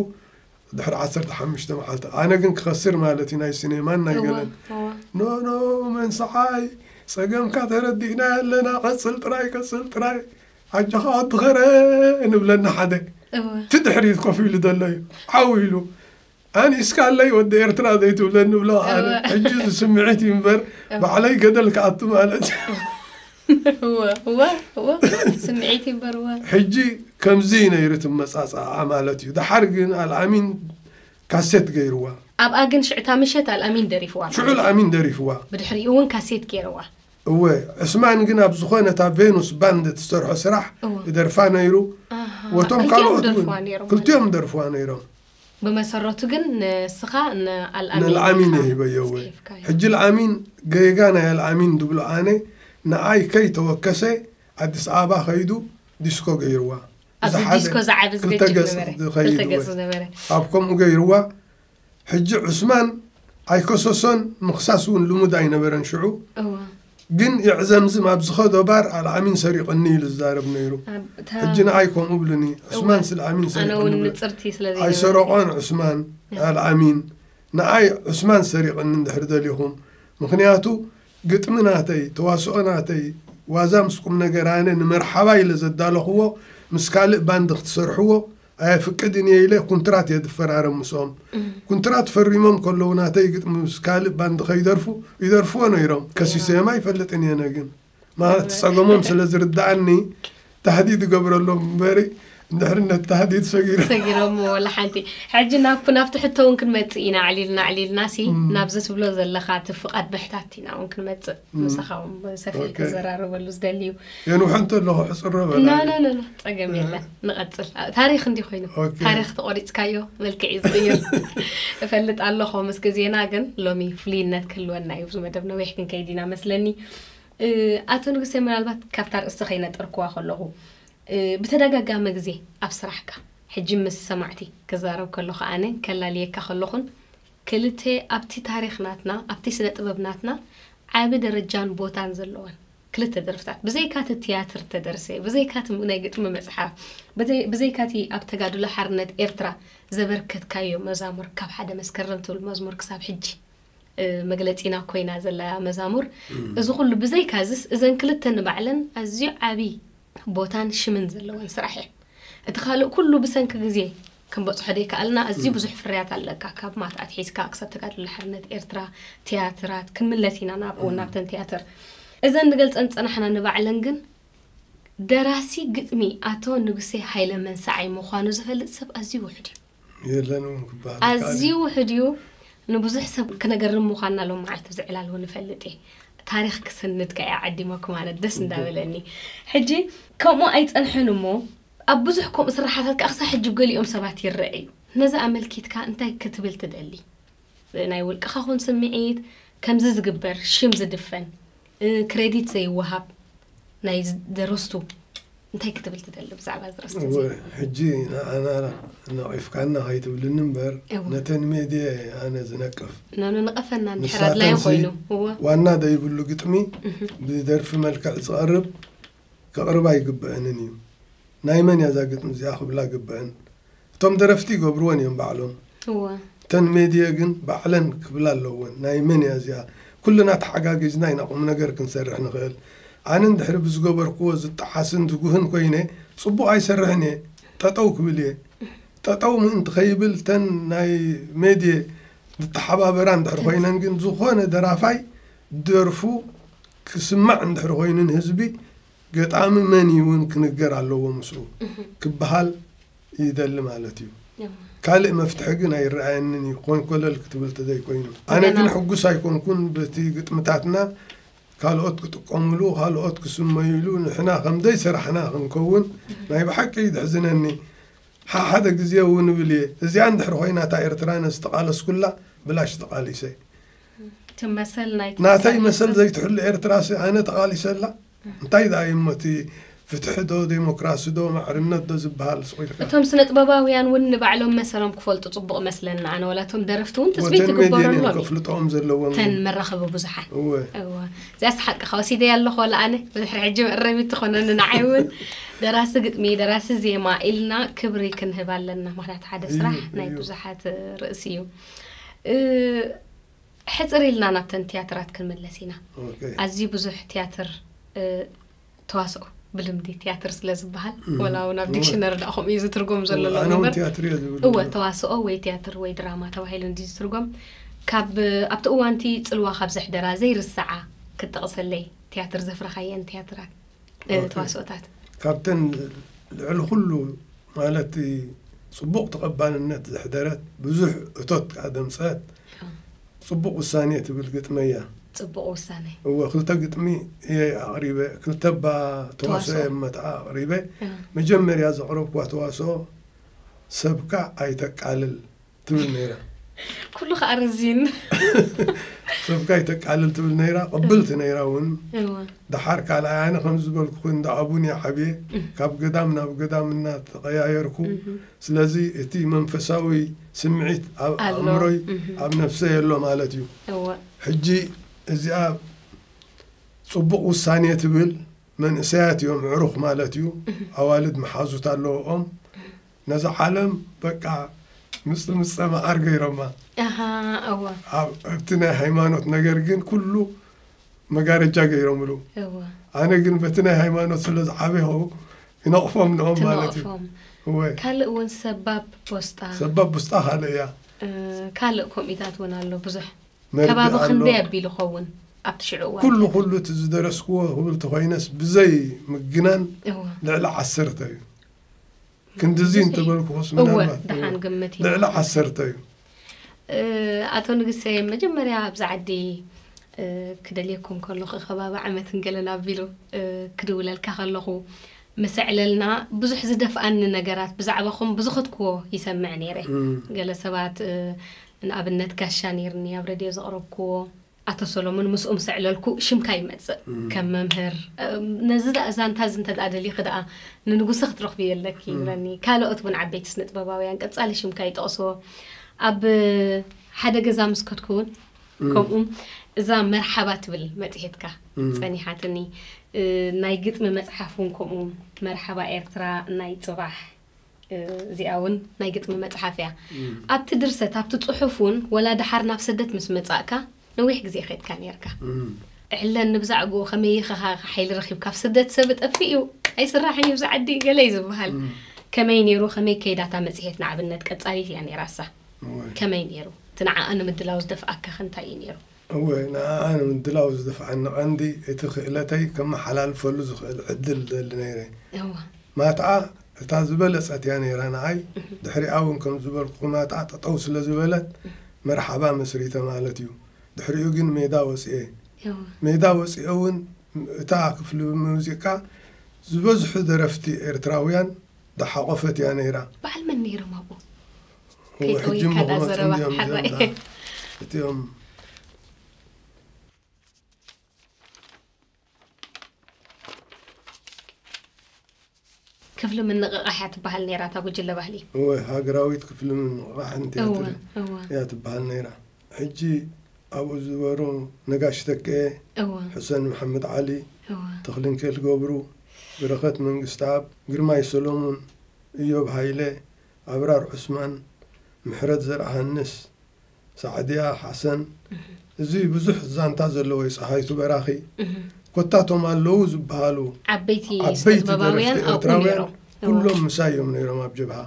ድሕሪ ዓሰርተ ሓሙሽተ መዓልቲ ኣነ ግን ክኸስር ማለት እዩ ናይ ሲኔማን ናይ እወ ገለን እወ ኖ ኖ መንስዓይ ጸገምካ ተረዲእና ኣለና ቀጽል ጥራይ ቀጽል ጥራይ ኣጆኻ ወዲ ኸረ ንብለና ሓደ እወ እቲ ድሕሪት ኮፍ ኢሉ ዘሎ እዩ ዓው ኢሉ ኣንኢስካለይ ወዲ ኤርትራ ዘይትብለ ንብሎ ኣነ ሕጂ ዝስምዒት እዩ እምበር ባዕለይ ገደል ክኣቱ ማለት ስምዒት እዩ እምበር ሕጂ ከምዚ ነይሩ ትመጻጻዓ ማለት እዩ ድሓር ግን ኣልኣሚን ካሴት ገይርዋ ኣብኣ ግን ሽዕታ ምሸት ኣልኣሚን ደሪፍዋ ሽዑ ኣልኣሚን ደሪፍዋ ብድሕሪኡ እውን ካሴት ገይርዋ እወ ዕስማን ግን ኣብ ዝኾነ እታ ቬኑስ ባንድ ትሰርሖ ስራሕ ይደርፋ ነይሩ ወቶም ካልኦት ክልቲኦም ደርፍዋ ነይሮም ብመሰረቱ ግን ንስኻ ንኣልኣሚን ኢኻ ጽሒፍካዮ። ሕጂ ኣልኣሚን ገይጋ ናይ ኣልኣሚን ድብሎ ኣነ ንዓይ ከይ ተወከሰ ኣዲስ ኣበባ ከይዱ ዲስኮ ገይርዋ ኣብዚ ዲስኮ ዝዓቢ ዝገጭ ዝነበረ ኣብ ከምኡ ገይርዋ ሕጂ ዑስማን ኣይከሰሶን ምኽሳስ ውን ልሙድ ኣይነበረን ሽዑ ግን የዕዘምዝም ኣብ ዝኸዶ ባር ኣልዓሚን ሰሪቕኒ ኢሉ ዝዛረብ ነይሩ ኣብ እታ ሕጂ ንዓይ ከምኡ እብሉኒ ዑስማን ስልዓሚን ኣነ ሰሪቕኒ እውን ብሎ ንጽርቲ ስለ ኣይ ዘይነበረ ሰረቖን ዑስማን ኣልዓሚን ንዓይ ዑስማን ሰሪቕኒ እንድሕር ደሊኹም ምኽንያቱ ግጥሚ ናተይ ተዋስኦ ናተይ ዋዛ ምስ ቁምነገር ኣነ ንመርሓባ ኢለ ዘዳለኹዎ ምስ ካልእ ባንድ ክትሰርሕዎ ኣየፍቅድን እየ ኢለ ኩንትራት እየ ዝፈራረም ምስኦም። ኩንትራት ፈሪሞም ከለዉ ናተይ ግጥሚ ምስ ካልእ ባንድ ከይደርፉ ይደርፍዎ ነይሮም። ከሲሰዮም ኣይፈልጥን እየ ኣነ ግን። ማለት እቲ ጸገሞም ስለ ዝርድኣኒ ታህዲድ እገብረሎም እምበሪ እንድሕሪ ነቲ ታህዲድ ሰጊረ ሰጊረምዎ ወላ ሓንቲ። ሕጂ ናብኩ ናብቲ ሕቶ እውን ክንመጽእ ኢና ኣዕሊልና ኣዕሊልናሲ ናብዚ ትብሎ ዘለኻ እቲ ፍቓድ ምሕታት ኢና እውን ክንመጽእ። ምሳኻ ሰፊሕ ክዘራረበሉ ዝደሊ እዩ የንውሐ እንተለኹ ሕፅረ በላኖኖ ፀገም የለን ንቐፅል ታሪክ እንዲ ኮይኑ ታሪክ ተቆሪፅካዮ መልክዕ እዩ ዝቅይር እፈልጥ ኣለኹ ምስ ግዜና ግን ሎሚ ፍሉይነት ክህልወና እዩ ብዙ መደብ ነዊሕ ክንከይድ ኢና መስለኒ ኣቶ ንጉሰ ምናልባት ካብታ ርእስቲ ከይነጠርክዋ ከለኹ ብተደጋጋሚ ግዜ ኣብ ስራሕካ ሕጂ ምስ ሰማዕቲ ክዛረብ ከለኹ ኣነ ከላልየካ ከለኹን ክልተ ኣብቲ ታሪኽ ናትና ኣብቲ ስነ ጥበብ ናትና ዓቢ ደረጃን ቦታን ዘለወን ክልተ ደርፍታት ብዘይካ እቲ ትያትር እተደርሰ ብዘይካ እቲ ናይ ግጥሚ መጽሓፍ ብዘይካ እቲ ኣብ ተጋድሎ ሓርነት ኤርትራ ዘበርከትካዮ መዛሙር ካብ ሓደ መስከረም ትብል መዝሙር ክሳብ ሕጂ መግለጺና ኮይና ዘላ መዛሙር እዚ ኩሉ ብዘይካ እዚስ እዘን ክልተ ንባዕለን ኣዝዩ ዓቢ ቦታን ሽምን ዘለወን ስራሕ እየን እቲ ካልእ ኩሉ ብሰንኪ ግዜ ክንበጽሖ ዘይከኣልና ኣዝዩ ብዙሕ ፍርያት ኣለካ፣ ካብ ማት ኣትሒዝካ ክሳብ ተጋድሎ ሓርነት ኤርትራ፣ ትያትራት፣ ክንምለስ ኢና ናብኡ ናብተን ትያትር እዘን ንገልጸን ዝጸናሕና ንባዕለን ግን ደራሲ ግጥሚ ኣቶ ንጉሴ ሃይለ መንሰዓይ ምዃኑ ዝፈልጥ ሰብ ኣዝዩ ውሑድ እዩ። የለን እውን ክበሃል ኣዝዩ ውሑድ እዩ። ንብዙሕ ሰብ ክነገርም ምዃንና ሎም መዓልቲ ኣብዚ ዕላል እውን እፈልጥ እየ። ታሪኽ ክስንድ ከኣ እየ ዓዲመኩም ኣነ ደስ እንዳበለኒ። ሕጂ ከምኡ ኣይጸንሐን እሞ ኣብ ብዙሕ ከምኡ ስርሓታት ከኣ ክሳዕ ሕጂ ብ ገሊኦም ሰባት ይርኣ እዩ። ነዚ ኣመልኪትካ እንታይ ክትብል ትደሊ? ብ ናይ ውልቅኻ ኹን ስምዒት ከምዚ ዝግበር ሽም ዝድፈን ን ክረዲት ዘይወሃብ ናይ ደረስቱ እንታይ ክትብል ትደሊ ብዛዕባ ደረስቲ እዚ? እወ ሕጂ ንዓና ነቒፍካና ከይትብልኒ እምበር እወ። ነተን ሜድየ እየ ኣነ ዝነቅፍ። ን ን ንቐፈና እንድሕር ኣድላዩ ንሳተንሲ ኮይኑ እወ። ዋና ዘይብሉ ግጥሚ ብ ደርፊ መልክዕ ዝቐርብ ከቕርባ ኣይግበእንን እዩ ናይ መን እያ ዛግጥሚ እዚኣ ክብላ ግበእን እቶም ደረፍቲ ይገብርወን እዮም ባዕሎም እተን ሜድየ ግን ባዕለን ክብላ ኣለወን ናይ መን እያ እዚኣ ኩልና ተሓጋጊዝና ኢና ቁምነገር ክንሰርሕ ንኽእል ኣነ እንድሕሪ ብዝገበርክዎ ዝጠሓስን ዝጉህን ኮይነ ፅቡቕ ኣይሰርሕን እየ ጠጠው ክብል እየ ጠጠው ምእንቲ ከይብል እተን ናይ ሜድየ ዝተሓባበራ እንድሕር ኮይነን ግን ዝኾነ ደራፋይ ደርፉ ክስማዕ እንድሕር ኮይኑ ንህዝቢ ገጣሚ መን እዩ እውን ክንገር ኣለዎ ምስኡ ክበሃል ይደሊ ማለት እዩ። ካልእ መፍትሒ ግን ኣይረኣየንን እዩ ኮን ኮለል ክትብል ተዘይኮይኑ። ኣነ ግን ሕጉስ ኣይኮንኩን በቲ ግጥምታትና ካልኦት ክጥቀሙሉ ካልኦት ክስመዩሉ ንሕና ከምዘይ ሰራሕና ክንከውን ናይ ብሓቂ እዩ ዘሕዝነኒ። ሓሓደ ግዜ እውን እብል እየ እዚኣ እንድሕር ኮይና እታ ኤርትራ ነዚ ዝተቃለስኩላ ብላሽ ተቃሊሰ። እቲ መሰል ናይቲ ናተይ ተቓሊሱ- መሰል ዘይትሕሉ ኤርትራሲ ኣነ ተቓሊሰላ እንታይ ደኣ እዩሞ እቲ ፍትሒ ዶ ዴሞክራሲ ዶ ማዕርነት ዶ ዝብሃል ሱቕ ኢልካ። እቶም ስነጥበባውያን ውን ንባዕሎም መሰሎም ክፈልጡ ጽቡቕ እመስለኒ ኣነ ወላ እቶም ደረፍቲ ውን ትጽቢት ወተን ሜድየን እየን ይግበረሎም እዩ ከፍልጠኦም ዘለወን እተን ግን መራኸቢ ብዙሓን እወ እወ እዚኣስ ሓቅኻ ወሲደያ ኣለኹ ወላ ኣነ ብድሕሪ ሕጂ መእረሚት ትኾነኒ ንዓይ እውን ደራሲ ግጥሚ ደራሲ ዜማ ኢልና ክብሪ ክንህብ ኣለና ምክንያቱ ሓደ እዩ ስራሕ ናይ እዩ ብዙሓት ርእሲ እዩ ሕፅር ኢልና ናብተን ትያትራት ክንምለስ ኢና ኣዝዩ ብዙሕ ትያትር ተዋስኦ ብልምዲ ትያትር ስለ ዝበሃል ወላ እውን ኣብ ዲክሽነሪ ዳ ከምኡ እዩ ዝትርጎም ዘሎ እወ ተዋስኦ ወይ ትያትር ወይ ድራማ ተባሂሉ እንዲ ዝትርጎም ካብ ኣብቲ እዋንቲ ፅልዋ ካብ ዘሕደራ ዘይርሰዓ ክጠቕሰለይ ትያትር ዘፍረኻየን ትያትራት ተዋስኦታት ካብተን ልዕሊ ኩሉ ማለት ፅቡቕ ተቐባልነት ዘሕደረት ብዙሕ እቶት ከዓ ዘምፀአት ፅቡቕ ውሳኔ ትብል ግጥሚ እያ። ፅቡቕ ውሳኔ እወ ክልተ ግጥሚ እየ ኣቕሪበ ክልተ እባ ተዋስኦ እየ መታኣ ኣቕሪበ መጀመርያ ዘቕረብክዋ ተዋስኦ ሰብካ ኣይተቃልል ትብል ነይራ ኩሉ ከዓ ርዚን ሰብካ ይተቃልል ትብል ነይራ ቅብልቲ ነይራ እውን ደሓር ካልኣይ ኣነ ከም ዝበልኩ ኮይኑ እንዳ ኣቡን ሓብየ ካብ ገዳም ናብ ገዳም እናተቀያየርኩ ስለዚ እቲ መንፈሳዊ ስምዒት ኣብ ኣእምሮይ ኣብ ነፍሰ የሎ ማለት እዩ ሕጂ እዚኣ ፅቡቅ ውሳኔ ትብል መንእሰያት እዮም ዕሩኽ ማለት እዩ ኣዋልድ መሓዙት ኣለዎኦም ነዛ ዓለም በቃ ምጽምጸ መዓር ገይሮማ። ኣሃ እወ ኣብ ኣብቲ ናይ ሃይማኖት ነገር ግን ኩሉ መጋረጃ ገይሮምሉ። እወ ኣነ ግን በቲ ናይ ሃይማኖት ስለ ዝዓበኹ ይነቕፎም ንኦም ማለት እዩ። ትነቕፎም እወ ካልእ እውን ሰባብ ቦስጣ ሰባብ ቡስጣ ካልእ እያ። እ፣ ካልእ ከምኢታት እውን ኣሎ ብዙሕ መርድእ ከባቢ ኣሎ። ክንደይ ኣቢሉ ኸውን ኣብቲ ሽዑ እዋን ኩሉ ከ? ኩሉ እቲ ዝደረስክዎ ክብል ተኾይነስ ብዘይ ምግናን እወ ልዕሊ ዓሰርተ እዩ። ክንድዚ እንተበልኩስ ልዕሊ ዓሰርተ እዩ ኣቶ ንግሰ መጀመርያ ኣብዚ ዓዲ ክደልየኩም ከለኹ ከባቢ ዓመት ንገለን ኣቢሉ ክድውለልካ ከለኹ ምስ ኣዕለልና ብዙሕ ዝደፍኣኒ ነገራት ብዛዕባኹም ብዝኸትክዎ ይሰምዕ ነይረ ገለ ሰባት ንኣብነት ጋሻ ነይርኒ ኣብ ረድዮ ዘቕረብክዎ ኣቶ ሰሎሙን ምስኡ ምስ ኣዕለልኩ ሽምካ ይመጽእ ከም መምህር ነዚ ደኣ ዛንታ እዚ እንተ ደሊኺ ደኣ ንንጉሰ ክትረኽብዮ ኣለኪ ይብለኒ ካልኦት ውን ዓበይቲ ስነጥበባውያን ቀጻሊ ሽምካ ይጠቕስዎ ኣብ ሓደ ገዛ ምስ ከድኩ ውን ከምኡ እዛ መርሓባ ትብል መጽሔትካ ጸኒሓትኒ ናይ ግጥሚ መጽሓፍ ውን ከምኡ መርሓባ ኤርትራ ናይ ጽባሕ እዚኣ ውን ናይ ግጥሚ መጽሓፍ እያ። ኣብቲ ድርሰት ኣብቲ ጽሑፍ ውን ወላ ደሓር ናብ ሰደት ምስ መጻእካ ነዊሕ ግዜ ከድካ ኔርካ እሕለን ንብዛዕግኡ ከመይ ኢኻ ከ ሓይሊ ረኺብካ ኣብ ስደት ሰብ እጠፍእ እዩ ኣይስራሕን እዩ ኣብዚ ዓዲ ገለ እዩ ዝብሃል ከመይ ኔሩ ከመይ ከይዳ እታ መጽሔት ንኣብነት ቀጻሊት እያ ኔራሳ ከመይ ኔሩ እቲ ንዓኣ ንምድላው ዝደፍኣካ ከ እንታይ እዩ ኔሩ? እወ፣ ንዓኣ ንምድላው ዝደፍዓኒ ቀንዲ፣ እቲ ክእለተይ ከመሓላልፈሉ ዝኽእል ዕድል እደሊ ነይረ። ማትኣ እታ ዝበለጸት እያ ነይራ ንዓይ፣ ድሕሪኣ'ውን ከም ዝበልኩኹ ማትኣ ጠጠው ስለ ዝበለት መርሓባ መስሪተ ማለት እዩ። ድሕሪኡ ግን ሜዳ ወጺኤ። ሜዳ ወጺኤ'ውን እታ ክፍሊ ሙዚቃ ዝበዝሑ ደረፍቲ ኤርትራውያን ዝሓቖፈት እያ ነይራ። በዓል መን ነይሮም ኣብኡ? ከይጠወይካ ዳ ዘረባ ሓራይ እቲኦም ክፍሊ ምንቕቓሕ እያ ትበሃል ነይራ እታ ጉጅለ ባህሊ እወ ሃገራዊት ክፍሊ ምንቕቓሕን ቲያትር እያ ትበሃል ነይራ ሕጂ ኣብኡ ዝበሩ ነጋሽ ተከየ ሕሰን መሓመድ ዓሊ ተኽልንኬል ገብሩ በረኸት መንግስቲ ኣብ ግርማይ ሰሎሙን እዮብ ሃይለ ኣብራር ዑስማን፣ ምሕረት ዘርኣሃንስ፣ ሳዕድያ ሓሰን እዚ ብዙሕ ዛንታ ዘለዎ'ዩ ጸሃይቱ በራኺ ኮታ እቶም ኣለዉ ዝበሃሉ ዓበይቲ ደረፍቲ ኤርትራውያን ኩሎም ምሳይ እዮም ነይሮም ኣብ ጀብሃ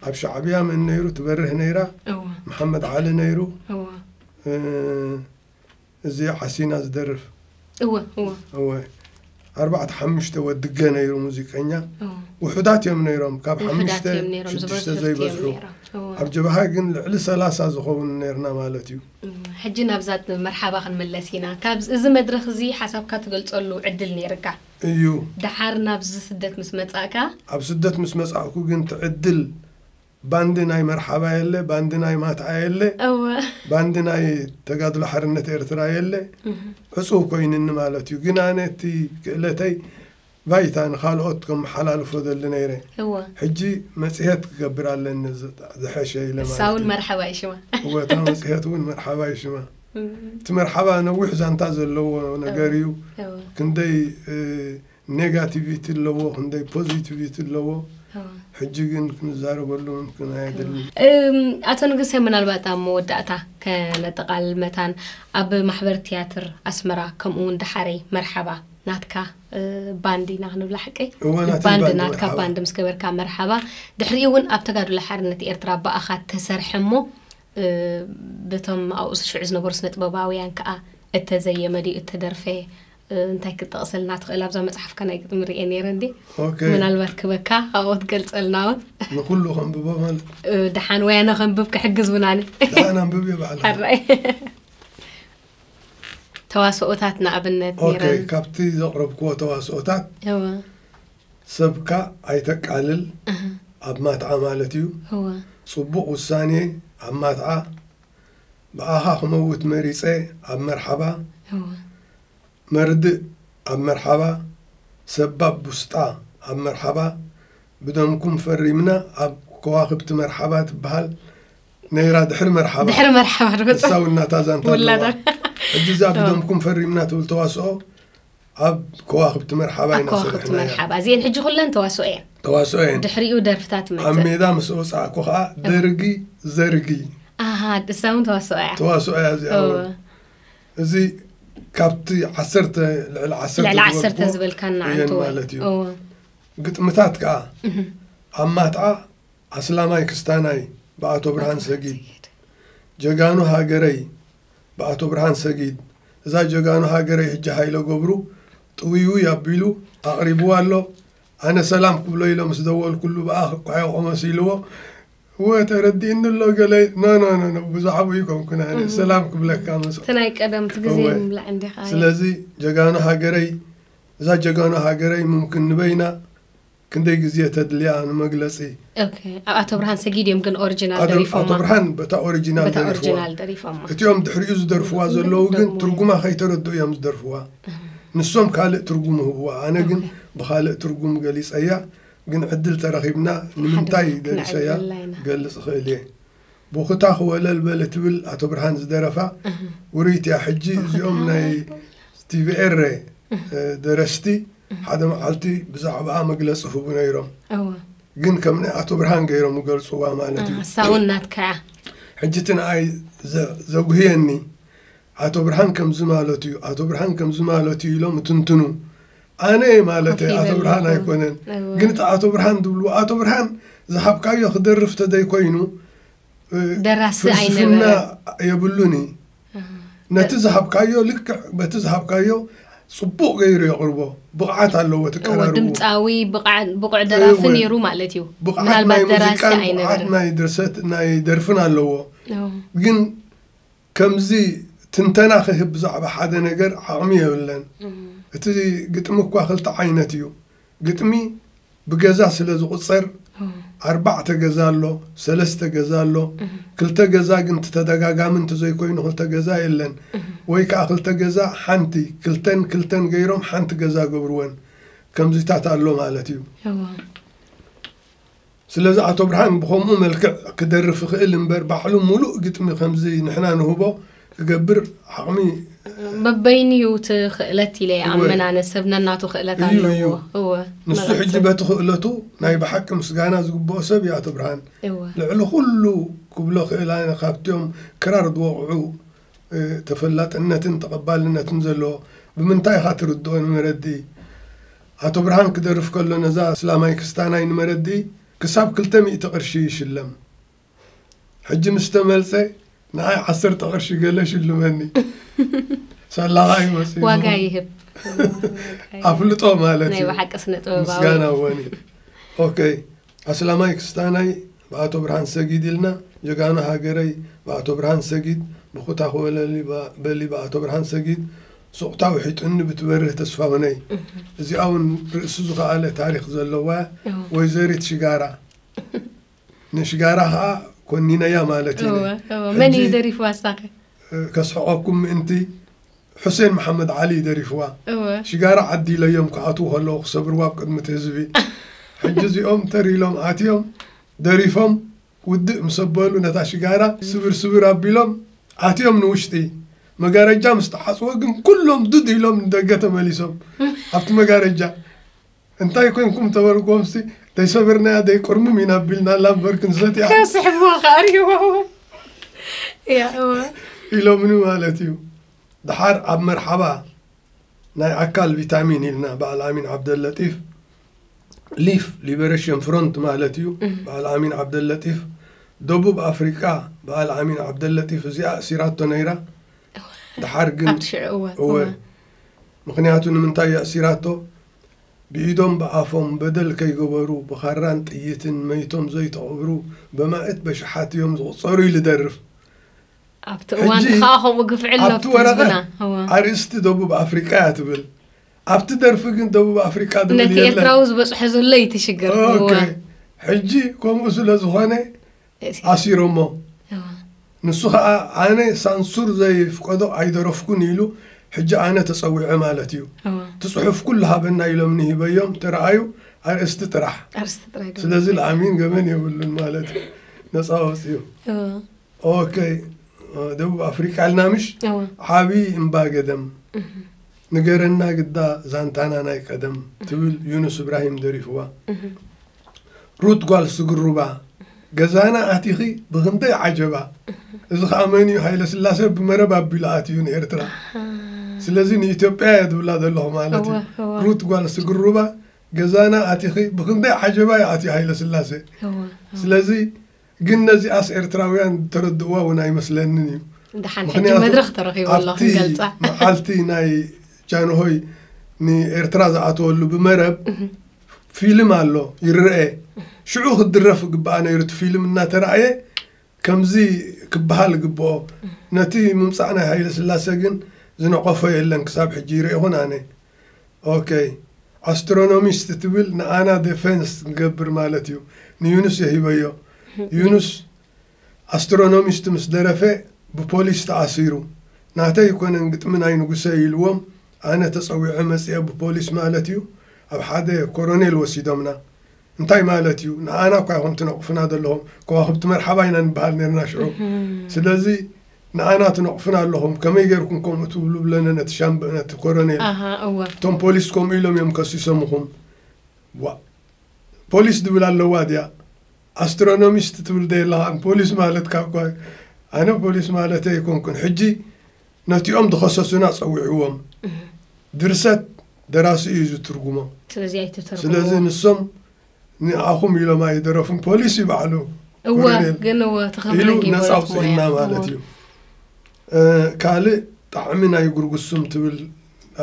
ኣብ ሻዕብያ መን ነይሩ ትበርህ ነይራ መሓመድ ዓሊ ነይሩ እዚ ሓሲና ዝደርፍ እወ እወ እወ ኣርባዕተ ሓሙሽተ ወድገ ነይሩ ሙዚቀኛ ውሑዳት እዮም ነይሮም ካብ ሓሙሽተ ሽዱሽተ ዘይበዝሑ ኣብ ጀብሃ ግን ልዕሊ ሰላሳ ዝኸውን ነርና ማለት እዩ ሕጂ ናብዛ መርሓባ ክንመለስ ኢና ካብ እዚ መድረክ እዚ ሓሳብካ ትገልፀሉ ዕድል ነይርካ እዩ ደሓር ናብዚ ስደት ምስ መፃእካ ኣብ ስደት ምስ መፃእኩ ግን ትዕድል ባንዲ ናይ መርሓባ የለ ባንዲ ናይ ማትኣ የለ እወ ባንዲ ናይ ተጋድሎ ሓርነት ኤርትራ የለ ዕጹው ኮይንኒ ማለት እዩ ግን ኣነ እቲ ክእለተይ ባይታ ንካልኦት ከመሓላልፎ ደሊ ነይረ እወ ሕጂ መጽሄት ክገብር ኣለኒ ዝ- ዝሐሸ ኢለ ንሳ ማለት እውን እዩ መርሓባ እዩ ሽማ እወ እታ መጽሄት እውን መርሓባ እዩ ሽማ እቲ መርሓባ ነዊሕ ዛንታ ዘለዎ ነገር እዩ እወ ክንደይ እ፣ ኔጋቲቪቲ ኣለዎ ክንደይ ፖዚቲቪቲ ኣለዎ ሕጂ ግን ክንዛረበሉ ምምክን ኣየድልን። ኣቶ ንጉሰ ምናልባት ኣብ መወዳእታ ከነጠቓልል መታን ኣብ ማሕበር ትያትር ኣስመራ ከምኡ እውን ደሓረይ መርሓባ ናትካ ባንድ ኢና ክንብላ ሓቀይ እወ፣ ናተይ ባንድ ባንድ ናትካ መርሓባ። ባንድ ምስ ገበርካ መርሓባ ድሕሪኡ እውን ኣብ ተጋድሎ ሓርነት ኤርትራ ብኣኻ ተሰርሐ እሞ በቶም ኣብኡ ሽዑ ዝነበሩ ስነጥበባውያን ከኣ እተዘየመ ድዩ እተደርፈ? እንታይ ክትጠቕሰልና ትኽእል? ኣብዛ መጽሓፍካ ናይ ግጥሚ ርእየ ነይረ እንዴ ምናልባት ክበካ ኣብኡ ትገልጸልና እውን ንኩሉ ከንብቦ ማለት ደሓን ወይ ኣነ ከንብብ ክሕግዝ እውን ኣነ ደሓን ኣንብብ እየ ባዕላ ተዋስኦታት ንኣብነት ካብቲ ዘቕረብክዎ ተዋስኦታት ሰብካ ኣይተቃልል ኣብ ማትዓ ማለት እዩ ጹቡቅ ውሳኔ ኣብ ማትዓ ብኣኻ ክመውት መሪጸ ኣብ መርሓባ መርድእ ኣብ መርሓባ ሰባብ ቡስጣ ኣብ መርሓባ ብደምኩም ፈሪምና ኣብ ከዋክብቲ መርሓባ ትብሃል ነይራ ድሕሪ መርሓባ ድሕሪ መርሓባ ንሳ ውናታ ዛንታ ኣለዋ ሕጂ እዛ ብደምኩም ፈሪምና ትብል ተዋስኦ ኣብ ከዋኽብቲ መርሓባ ኢና ሰሪሕናያ። ኣብ ከዋኽብቲ መርሓባ እዚኤን ሕጂ ኩለን ተዋስኦ እየን። ተዋስኦ እየን። ድሕሪኡ ደርፍታት ትመጽእ። ኣብ ሜዳ ምስ ወጻእኩ ከኣ ደርጊ ዘርጊ። ኣሃ እሳ እውን ተዋስኦ እያ። ተዋስኦ እያ እዚኣ እውን። እዚ ካብቲ ዓሰርተ ልዕሊ ዓሰርተ ልዕሊ ዓሰርተ ዝበልካና ኣንተወ ማለት እዩ። ግጥምታት ከኣ ኣብ ማትዓ ኣስላማይ ክስታናይ ብኣቶ ብርሃን ሰጊድ ጀጋኑ ሃገረይ ብኣቶ ብርሃን ሰጊድ እዛ ጀጋኑ ሃገረይ ህጂ ሃይለ ገብሩ ጥውይውይ ኣቢሉ ኣቕሪብዋ ኣሎ ኣነ ሰላም ክብሎ ኢለ ምስ ደወልኩሉ ብኣ ክኳሕዮኾ መሲልዎ እወ ተረዲእኒ ኣሎ ገለ ኖኖኖ ብዙሓዊ ይኮንኩን ኣነ ሰላም ክብለካ መስ እቲ ናይ ቀደም እቲ ግዜ ምብላዕ እንዲኻ ስለዚ ጀጋኑ ሃገረይ እዛ ጀጋኑ ሃገረይ ምምክን ንበይና ክንደይ ግዜ ተድልያ ንመግለጺ። ኦኬ ኣብ ኣቶ ብርሃን ሰጊድ እዮም ግን ኦርጅናል ደሪፎማ ኣቶ ብርሃን በታ ኦርጅናል በታ ኦርጅናል ደሪፎማ እቲኦም ድሕሪኡ ዝደርፍዋ ዘለዉ ግን ትርጉማ ከይተረድኡ እዮም ዝደርፍዋ ንሶም ካልእ ትርጉም ይህብዋ ኣነ ግን ብኻልእ ትርጉም ገሊጸያ ግን ዕድል ተረኺብና ንምንታይ ደሪሰያ ክገልጽ እኽእል እየ ቡኽታኽ ወለል በል እትብል ኣቶ ብርሃን ዝደረፋ ውርይቲ እያ ሕጂ እዚኦም ናይ ቲቪ ኤረ ደረስቲ ሓደ መዓልቲ ብዛዕባኣ መግለፂ ህቡ ነይሮም እወ ግን ከም ናይ ኣቶ ብርሃን ገይሮም ይገልፅዋ ማለት እዩ ሳውን ናትካ እያ ሕጂ እቲ ንኣይ ዘ- ዘጉህየኒ ኣቶ ብርሃን ከምዚ ማለት እዩ ኣቶ ብርሃን ከምዚ ማለት እዩ ኢሎም እትንትኑ ኣነ ማለተይ ኮፍ ኣቶ ይበል ብርሃን ኣለኹ። ኣይኮነን እወ። ግን እቲ ኣቶ ብርሃን ትብልዎ ኣቶ ብርሃን ዝሃብካዮ ክደርፍ ተዘይኮይኑ እ፣ ደራሲ ፍልስፍና ኣይነበረን። የብሉን እዩ ነቲ ዝሃብካዮ ልክዕ በቲ ዝሃብካዮ ፅቡቅ ገይሩ የቕርቦ ብቕዓት ኣለዎ እወ ትቀራርቡ ድምፃዊ ብቕዓ- ብቑዕ ደራፊ እወ። ነይሩ ማለት እዩ ብቕዓት ናይ ምናልባት ደራሲ ሙዚቃን ብቕዓት ኣይነበረን ናይ ድርሰት ናይ ደርፍን ኣለዎ እወ። ግን ከምዚ ትንተና ክህብ ብዛዕባ ሓደ ነገር ዓቕሚ የብለን። እቲ ግጥሚ እኳ ክልተ ዓይነት እዩ። ግጥሚ ብገዛ ስለ ዝቑጸር ኣርባዕተ ገዛ ኣሎ፣ ሰለስተ ገዛ ኣሎ፣ ክልተ ገዛ ግን እቲ ተደጋጋሚ እንተዘይኮይኑ ክልተ ገዛ የለን። ወይ ከኣ ክልተ ገዛ ሓንቲ፣ ክልተን ክልተን ገይሮም ሓንቲ ገዛ ገብርወን። ከምዚታት ኣሎ ማለት እዩ። እወ። ስለዚ ኣቶ ብርሃን ብኸምኡ መልክዕ ክደርፍ ይኽእል እምበር ባዕሉ ሙሉእ ግጥሚ ከምዚ ንሕና ንህቦ ክገብር ዓቕሚ በበይኑ እዩ እቲ ክእለት ኢለ ይኣምን ኣነ ሰብ ነናቱ ክእለት እዩ፣ ኣለዎ እዩ። እወ ንሱ መቐጽል። ሕጂ በቲ ክእለቱ ናይ ብሓቂ ምስጋና ዝግብኦ ሰብ እዩ ኣቶ ብርሃን። እወ ልዕሊ ኩሉ ክብሎ ክእል ኣነ ካብትዮም ክራር ዝወቕዑ ተፈላጥነትን ተቐባልነትን ዘለዎ ብምንታይ ኢኻ ትርድኦ ንመረድኢ? ኣቶ ብርሃን ክደርፍ ከሎ ነዛ ኣስላማይ ክስታናይ ንመረድኢ ክሳብ ክልተ ሚእቲ ቅርሺ ይሽለም። ሕጂ ምስ ተመልሰ ንዓይ ዓሰርተ ቅርሺ ገለ ሽልመኒ። ሰላኻ እዩ መጽኡ። ዋጋ ይህብ። ኣፍልጦ ማለት እዩ። ናይ ብሓቂ ስነ ጥበባዊ ምስጋና ወኒ ኦኬ ኣስላማይ ክስታናይ ብኣቶ ብርሃን ሰጊድ ኢልና ጀጋኑ ሃገረይ ብኣቶ ብርሃን ሰጊድ ብኩታ ኮለል በሊ ብኣቶ ብርሃን ሰጊድ ሱቕታ ውሒጡኒ ብትበርህ ተስፋሁነይ እዚኣ ውን ርእሱ ዝኸኣለ ታሪኽ ዘለዋ ወይዘሪት ሽጋራ ንሽጋራ ከዓ ኮኒነያ ማለት እዩ መን እዩ ደሪፍዋ ሳኸ ከስሕቐኩም ምእንቲ ሑሴን መሓመድ ዓሊ እዩ ደሪፍዋ እወ ሽጋራ ዓዲ ኢለዮም ክኣትዉ ከለዉ ክሰብርዋ ኣብ ቅድሚ እቲ ህዝቢ ሕጂ እዚኦም ተር ኢሎም ኣትዮም ደሪፎም ውድእ ምስ ኣበሉ ነታ ሽጋራ ስብር ስብር ኣቢሎም ኣትዮም ንውሽጢ መጋረጃ ምስ ተዓጽወ ግን ኩሎም ዱድ ኢሎም ንደገ ተመሊሶም ኣብቲ መጋረጃ እንታይ ኮይንኩም ተበሉ ጎምስቲ ደይሰበርናያ ደይቆርምም ኢና ቢልናላ እምበር ክንሰትያ ከስሕብዋ ከዓ ሪዋ እያ እወ ኢሎምኒ ማለት እዩ ድሓር ኣብ መርሓባ ናይ ኣካል ቪታሚን ኢልና በዓል ኣሚን ዓብደለጢፍ ሊፍ ሊበሬሽን ፍሮንት ማለት እዩ በዓል ኣሚን ዓብደለጢፍ ደቡብ ኣፍሪቃ በዓል ኣሚን ዓብደለጢፍ እዚኣ እሲራቶ ነይራ ድሓር ግን ኣብቲ ሽዑ እወ እወ እወ ምኽንያቱ ንምንታይ የእሲራቶ ብኢዶም ብኣፎም በደል ከይገበሩ ብኻራን ጥይትን መይቶም ዘይተቐብሩ በማእት በሽሓት እዮም ዝቑፀሩ ኢሉ ደርፍ ኣብቲ እዋን ሕጂ ከዓ ከምኡ ግፍዒ ኣሎ ኣብቲ ኣብቲ ወረቐት ህዝብና እወ ኣርእስቲ ደቡብ ኣፍሪቃ እያ ትብል ኣብቲ ደርፊ ግን ደቡብ ኣፍሪቃ ዝብል ነቲ የለን ኤርትራዊ ዝበፅሖ ዘሎ እዩ እቲ ሽግር እወ ኦኬ ሕጂ ከምኡ ስለ ዝኾነ ኣሲሮሞ። ንሱ ከኣ ኣነ ሳንሱር ዘይፍቀዶ ኣይደረፍኩን ኢሉ ሕጂ ኣነ ተጸዊዐ ማለት እዩ። እቲ ጽሑፍ ኩሉ ሃበና ኢሎምኒ ሂበዮም ተራኣዩ ኣርእስቲ ጥራሕ። ስለዚ ለኣሚን ገበን የብሉን ማለት እዩ። ነጻ ወጽዩ። ኦከይ ደቡብ ኣፍሪቃ ኣልና ምሽ ዓብዪ እምባ ገደም ንገረና ግዳ ዛንታና ናይ ቀደም ትብል ዩኑስ እብራሂም ደሪፍዋ። ሩት ጓል ስግሩባ ገዛና ኣቲኺ ብኽንደይ ዓጀባ እዚ ኸኣ መን እዩ ሃይለስላሴ ብመረብ ኣቢሉ ኣትዩ ንኤርትራ ስለዚ ንኢትዮጵያ እየ ትብላ ዘለኹ ማለት እዩ ሩት ጓል ስግሩባ ገዛና ኣቲኺ ብኽንደይ ዓጀባ እዩ ኣትዩ ሃይለስላሴ ስለዚ ግን ነዚኣስ ኤርትራውያን ዝተረድእዋ እውን ኣይመስለንን እዩ። ደሓን ሕጂ ምክንያቱ መድረኽ ተረኺቡ ኣሎ ኣብቲ ክንገልጻ። መዓልቲ ናይ ጃንሆይ ንኤርትራ ዝኣተወሉ ብመረብ ፊልም ኣሎ ይረኤ ሽዑ ክድረፍ ይግባኣ ነይሩ እቲ ፊልም እናተራእየ ከምዚ ክበሃል ይግብኦ ነቲ ምምጻእ ናይ ሃይለ ስላሰ ግን ዝነቐፎ የለን ክሳብ ሕጂ ይረኤኹን ኣነ ኦከይ ኣስትሮኖሚስት ትብል ንኣና ደፈንስ ክንገብር ማለት እዩ ንዩኑስ እየ ሂበዮ ዩኑስ ኣስትሮኖሚስት ምስ ደረፈ ብፖሊስ ተኣሲሩ ናተይ ኣይኮነን ግጥሚ ናይ ንጉሰ እዩ ኢልዎም ኣነ ተጸዊዐ መጺኤ ብፖሊስ ማለት እዩ ኣብ ሓደ ኮሮኔል ወሲዶምና እንታይ ማለት እዩ ንዓና እኳ ይኹም ትነቕፉና ዘለኹም ከዋኽብቲ መርሓባ ኢና ንበሃል ነርና ሽዑ ስለዚ ንዓና ትነቕፉና ኣለኹም ከመይ ጌርኩም ከምኡ ትብሉ ብለነ ነቲ ሻምበ ነቲ ኮረኔል እቶም ፖሊስ ከምኡ ኢሎም እዮም ከሲሶምኹም ዋ ፖሊስ ድብል ኣለዋ ድያ ኣስትሮኖሚስት ትብል ደየለኻን ፖሊስ ማለት ካብ ኣነ ፖሊስ ማለት ኣይኮንኩን ሕጂ ነቲኦም ዝኸሰሱና ጸዊዕዎም ድርሰት ደራሲ እዩ ዝትርጉሞ ስለዚ ኣይትተርጉምዎ ስለዚ ንሶም ንኣኹም ኢሎም ኣይደረፉን ፖሊስ እዩ ባዕሉ እወ ኮሎኔል ግን እወ ኢሉ ተኸብረጊ ነፃ ኣውፅእና ማለት እዩ እ፣ ካልእ ጣዕሚ ናይ ጉርጉሱም ትብል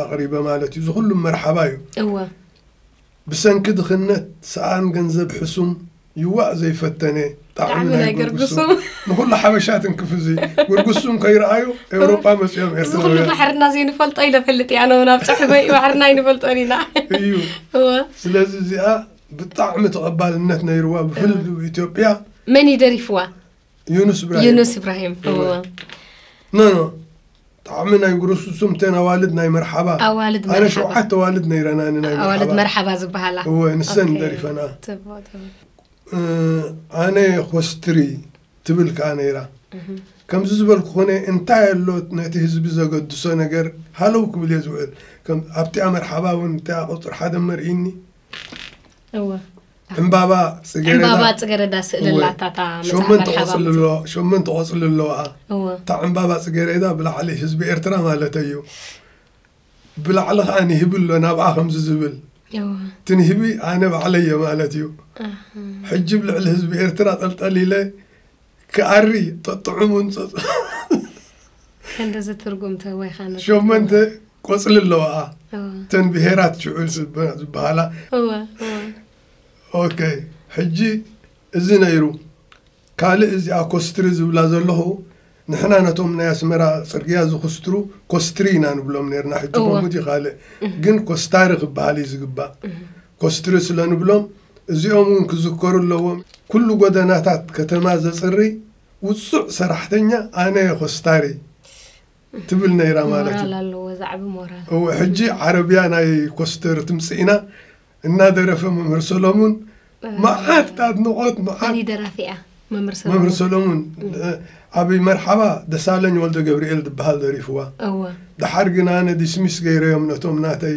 ኣቕሪበ ማለት እዩ ዝኹሉም መርሓባ እዩ እወ ብሰንኪ ድኽነት ሰኣን ገንዘብ ሕሱም ይዋእ ዘይፈተነ ጣዕሚ ናይ ጉርጉሱም ንኹሉ ሓበሻ ትንክፍ እዚ ጉርጉሱም ከይረኣዩ ኤውሮጳ መጺኦም እዚ ኩሉ ኤርትራውያን ባሕርና ዘይንፈልጦ ኢለ ፈልጥ እያ ኣነ እውን ኣብ ፅሑፈይ ባሕርና ኣይንፈልጦን ኢና እዩ እወ ስለዚ እዚኣ ብጣዕሚ ተቐባልነት ነይርዋ ብፍል ኢትዮጵያ መን እዩ ደሪፍዋ ዩኑስ ኢብራሂም ዩኑስ ኢብራሂም እወ ኖ ኖ ጣዕሚ ናይ ጉሩሱሱም ተን ኣዋልድ ናይ መርሓባ ኣዋልድ ኣነ መርሓባ ሸውዓተ ኣዋልድ ነይረና ንናይ ኣዋልድ መርሓባ መርሓባ ዝበሃላ እወ ንሰን ኦኬ። ደሪፈና ጽቡቕ ጽቡቕ እ፣ ኣነ ኮስትሪ ትብል ከኣ ነይራ ከምዚ ዝበልኩ ኮነ እንታይ ኣሎ ነቲ ህዝቢ ዘገድሶ ነገር ሃለው ክብል እየ ዝውዕል ከም ኣብቲኣ መርሓባ እውን እቲኣ ቁፅሪ ሓደ መርኢኒ ዕምባባ ፅገረዳ ስእሊ ኣላታ ሸመንተ ቆፅሊ ኣለዋኣ እታ ዕምባባ ፅገረዳ ብላዕሊ ህዝቢ ኤርትራ ማለት እዩ ብላዕሊ ከዓ ንህቢ ኣሎ ናብኣ ከምዚ ዝብል እቲ ንህቢ ኣነ ባዕለየ ማለት እዩ ሕጂ ብ ልዕሊ ህዝቢ ኤርትራ ጠልጠሊለ ክኣሪ ጠጥዑሙን ከንደዚ ትርጉም ተወይካ ሸመንተ ቆፅሊ ኣለዋ እተን ብሄራት ሽዑል ዝበሃላ ኦኬ ሕጂ እዚ ነይሩ ካልእ እዚኣ ኮስትሪ ዝብላ ዘለኹ ንሕና ነቶም ናይ ኣስመራ ፅርግያ ዝክስትሩ ኮስትሪ ኢና ንብሎም ነርና ሕጂ ከምኡ ካልእ ግን ኮስታሪ ክበሃል እዩ ዝግባእ ኮስትሪ ስለ ንብሎም እዚኦም እውን ክዝከሩ ኣለዎም። ኩሉ ጎደናታት ከተማ ዘጽርይ ውጹዕ ሰራሕተኛ ኣነ'የ ኮስታሪ ትብል ነይራ ማለት ሞራል እዩ። ኣለዎ ዛዕቢ ሞራል። እወ ሕጂ ዓረብያ ናይ ኮስተር ትምጽኢና እናደረፈ መምህር ሰለሙን መዓት ኣድንቆት መዓት ፍሉይ ደራፊ እያ መምህር ሰለሙን። መምህር ሰለሙን ኣብ መርሓባ ደሳለኝ ወልደገብርኤል ዝብሃል ደሪፍዋ እወ። ደሓር ግን ኣነ ዲስሚስ ገይረዮም ነቶም ናተይ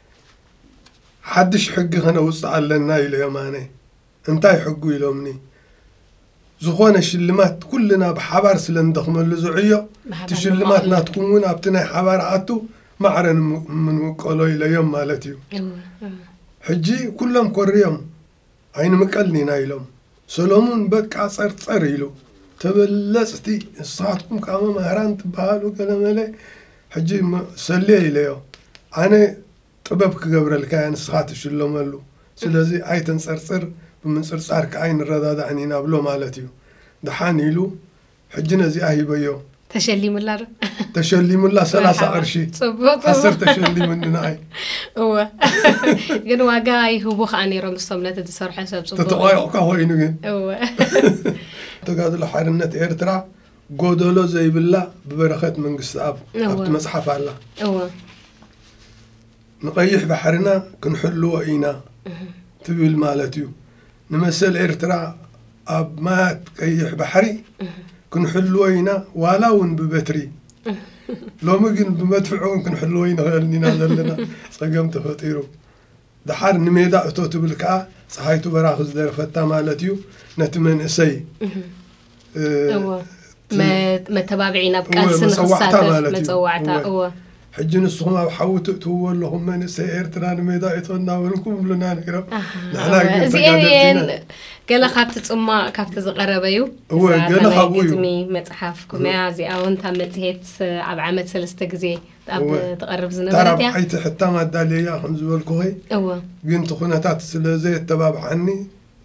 ሓድሽ ሕጊ ከነውጽእ ኣለና ኢለ ዮም ኣነ እንታይ ሕጉ ኢሎምኒ ዝኾነ ሽልማት ኩልና ብሓባር ስለ ንደኽመሉ ዝዕዮ እቲ ሽልማት ናትኩም እውን ኣብቲ ናይ ሓባር ኣቱ ማዕረ ንምቀሎ ኢለዮም ማለት እዩ ሕጂ ኩሎም ኮርዮም ኣይንምቀልን ኢና ኢሎም ሰሎሙን በቃ ጸርጸር ኢሉ ተበለጽቲ ንስኻትኩም ከኣ መማህራን ትበሃሉ ገለመለ ሕጂ ሰልየ ኢለዮ ኣነ ጥበብ ክገብረልካ እየ ንስኻ ትሽለመሉ ስለዚ ኣይተንጸርጽር ብምንጽርጻር ከኣ ኣይንረዳዳእን ኢና ብሎ ማለት እዩ ደሓን ኢሉ ሕጂ ነዚኣ ሂበዮ። ተሸሊሙላ ዶ? ተሸሊሙላ ሰላሳ መርሓባ። ቅርሺ ጽቡቅ ጽቡቅ ዓሰርተ ሸሊሙኒ ንዓይ እወ ግን ዋጋ ይህቡ ከዓ ነይሮም ንሶም ነቲ ዝሰርሖ ሰብ ጽቡቅ ተተቋዮቕካ ኮይኑ ግን እወ ተጋድሎ ሓርነት ኤርትራ ጎደሎ ዘይብላ ብበረኸት መንግስትኣብ እወ። ኣብቲ መጽሓፍ ኣላ እወ ንቐይሕ ባሕርና ክንሕልዎ ኢና ትብል ማለት እዩ ንመሰል ኤርትራ ኣብ ማያት ቀይሕ ባሕሪ ክንሕልዎ ኢና ዋላ ውን ብበትሪ ሎሚ ግን ብመድፍዕ ውን ክንሕልዎ ኣይንክእልን ኢና ዘለና ጸገም ተፈጢሩ ድሓር ንሜዳ እቶ ትብል ከኣ ጸሓይቱ በራኺ ዝደረፈታ ማለት እዩ ነቲ መንእሰይ መተባብዒ ናብ ቃልሲ ንክሳተፍ መፀዋዕታ እወ ሕጂ ንስኹም ኣብ ሓዊ ትእትውዎ ኣለኹም መንእሰይ ኤርትራ ንሜዳ እቶ እናበልኩም ብሉና ነይሮም ንሕና ግን ተጋደልቲና ገለ ካብቲ ፅማቕ ካብቲ ዝቐረበ እዩ እወ ገለ ካብኡ እዩ ግጥሚ መፅሓፍ ኩመያ እዚኣ እውን ካብ መፅሄት ኣብ ዓመት ሰለስተ ግዜ ኣብ ትቐርብ ዝነበረት እያ ታራብዓይቲ ሕታም ኣዳልየያ ከም ዝበልኩኸይ እወ ግን እቲ ኩነታት ስለ ዘየተባብዓኒ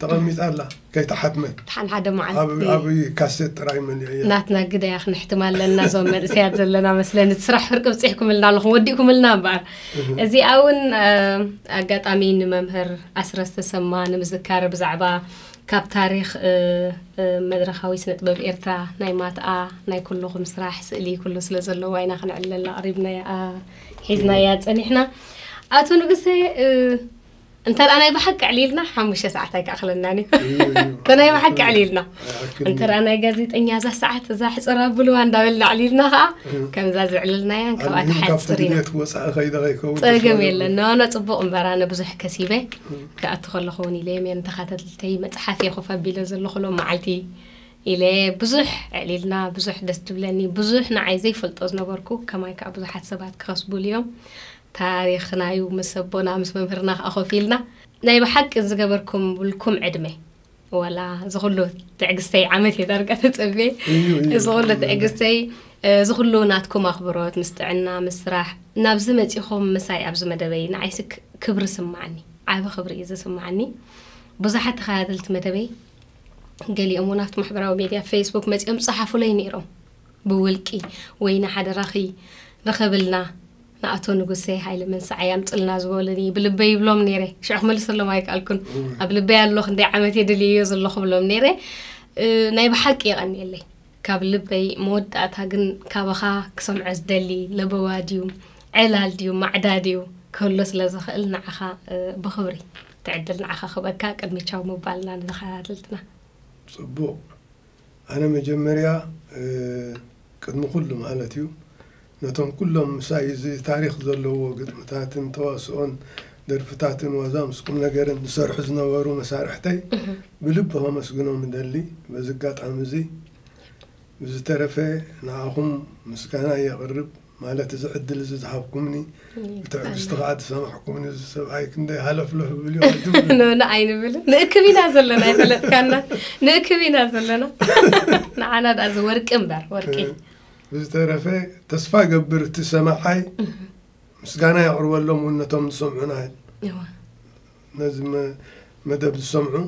ተቐሚጣ ኣላ ከይተሓትመ እቲ ሓንሓደ መዓልቲ ኣብ ኣብ ካሴት ጥራይ መሊዐያ ናትና ግደያ ክንሕትማ ኣለና እዞም መንእሰያት ዘለና መስለኒ እቲ ስራሕ ፍርቂ ብፂሕኩምልና ኣለኹም ወዲእኩምልና እምበኣር እዚኣ እውን ኣጋጣሚ ንመምህር ኣስረስ ተሰማ ንምዝካር ብዛዕባ ካብ ታሪክ መድረካዊ ስነ ጥበብ ኤርትራ ናይ ማትኣ ናይ ኩልኹም ስራሕ ስእሊ ኩሉ ስለ ዘለዋ ኢና ክንዕለላ ቀሪብና ሒዝናያ ፀኒሕና ኣቶ ንጉሰ እንተ ናይ ብሓቂ ዕሊልና ሓሙሽተ ሰዓት ኣይክኣኽለናን እዩ እንተ ናይ ብሓቂ ዕሊልና እንተ ናይ ጋዜጠኛ እዛ ሰዓት እዛ ሕፅር ኣብልዋ እንዳበልና ዕሊልና ከዓ ከምዛ ዝዕልልናያን ካብኣ ትሓፅር ኢና ፀገም የለን ነዋና ፅቡቕ እምበር ኣነ ብዙሕ ከሲበ ክኣቱ ከለኹ እውን ኢለ ሜን ተኸታተልተይ መፅሓፍ እየ ኮፍ ኣቢለ ዘለኹ ሎም መዓልቲ ኢለ ብዙሕ ዕሊልና ብዙሕ ደስ ትብለኒ ብዙሕ ንዓይ ዘይፈልጦ ዝነበርኩ ከማይ ከዓ ብዙሓት ሰባት ክኸስቡሉ እዮም ታሪኽናዩ ምስ ኣቦና ምስ መምህርና ከኣ ኮፍ ኢልና ናይ ብሓቂ ዝገበርኩምልኩም ዕድመ ዋላ እዚ ኩሉ ትዕግስተይ ዓመት እየ ዳርጋ ተጸብየ እዚ ኩሉ ትዕግስተይ እዚ ኩሉ ናትኩም ኣኽብሮት ምስ ጥዕና ምስ ስራሕ ናብዚ መጺኹም ምሳይ ኣብዚ መደበይ ንዓይሲ ክብሪ ስማዓኒ ዓቢ ክብሪ እዩ ዝስማዓኒ ብዙሓት ተኸታተልቲ መደበይ ገሊኦም እውን ኣብቲ ማሕበራዊ ሚድያ ፌስቡክ መፂኦም ፀሓፉለይ ነይሮም ብውልቂ ወይኒ ሓደራኺ ርኸብልና ንኣቶ ንጉሴ ሃይለ መንሰዓይ ኣምጽልና ዝበሉኒ ብልበይ ይብሎም ነይረ ሽዑ ክመልሰሎም ኣይከኣልኩን ኣብ ልበይ ኣሎ ክንደይ ዓመት የድልየዮ ዘለኹ ብሎም ነይረ ናይ ብሓቂ የቐኒየለይ ካብ ልበይ መወዳእታ ግን ካባኻ ክሰምዖ ዝደሊ ለበዋ ድዩ ዕላል ድዩ ማዕዳ ድዩ ክህሎ ስለ ዝኽእል ንዓኻ ብኽብሪ ትዕድል ንዓኻ ክበካ ቅድሚ ቻው ምባልና ንተኸታተልትና ጽቡቕ ኣነ መጀመርያ ቅድሚ ኩሉ ማለት እዩ ነቶም ኩሎም ምሳይ እዚ ታሪኽ ዘለዎ ግጥምታትን ተዋስኦን ደርፍታትን ዋዛ ምስ ቁምነገርን ዝሰርሑ ዝነበሩ መሳርሕተይ ብልቢ ከመስግኖም እደሊ በዚ ኣጋጣሚ እዚ። ብዝተረፈ ንዓኹም ምስጋናይ የቕርብ። ማለት እዚ ዕድል እዚ ዝሃብኩምኒ ብትዕግስቲ ከዓ ዝሰማሕኩምኒ እዚ ሰብኣይ ክንደይ ሃለፍለፍ ብል ዩ ንብላ ኣይንብልን ንእክብ ኢና ዘለና ይፈለጥካና ንእክብ ኢና ዘለና ንዓና ዳ እዚ ወርቂ እምበር ወርቂ ብዝተረፈ ተስፋ ገብር እቲ ሰማዓይ ምስጋና የቕርበሎም እውን ነቶም ዝሰምዑና ነዚ መደብ ዝሰምዑ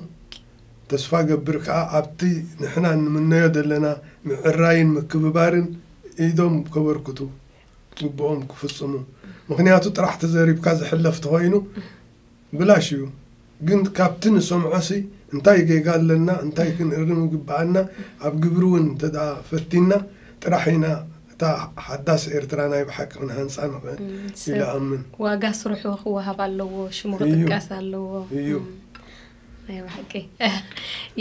ተስፋ ገብር ከኣ ኣብቲ ንሕና እንምነዮ ዘለና ምዕራይን ምክብባርን ኢዶም ከበርክቱ ግቡኦም ክፍጽሙ ምክንያቱ ጥራሕ ተዘሪብካ ዝሕለፍ ተኮይኑ ብላሽ እዩ ግን ካብቲ ንሰምዖሲ እንታይ ጌጋ ኣለና እንታይ ክንእርም ይግብኣና ኣብ ግብሪ ውን እንተ ፈቲና ጥራሕ ኢና እታ ሓዳስ ኤርትራ ናይ ብሓቂ ክንሃንጻ ንኽእል ኢለ እኣምን። ዋጋ ስርሑ ክወሃብ ኣለዎ፣ ሽሙ ክጥቀስ ኣለዎ። እዩ። ናይ ብሓቂ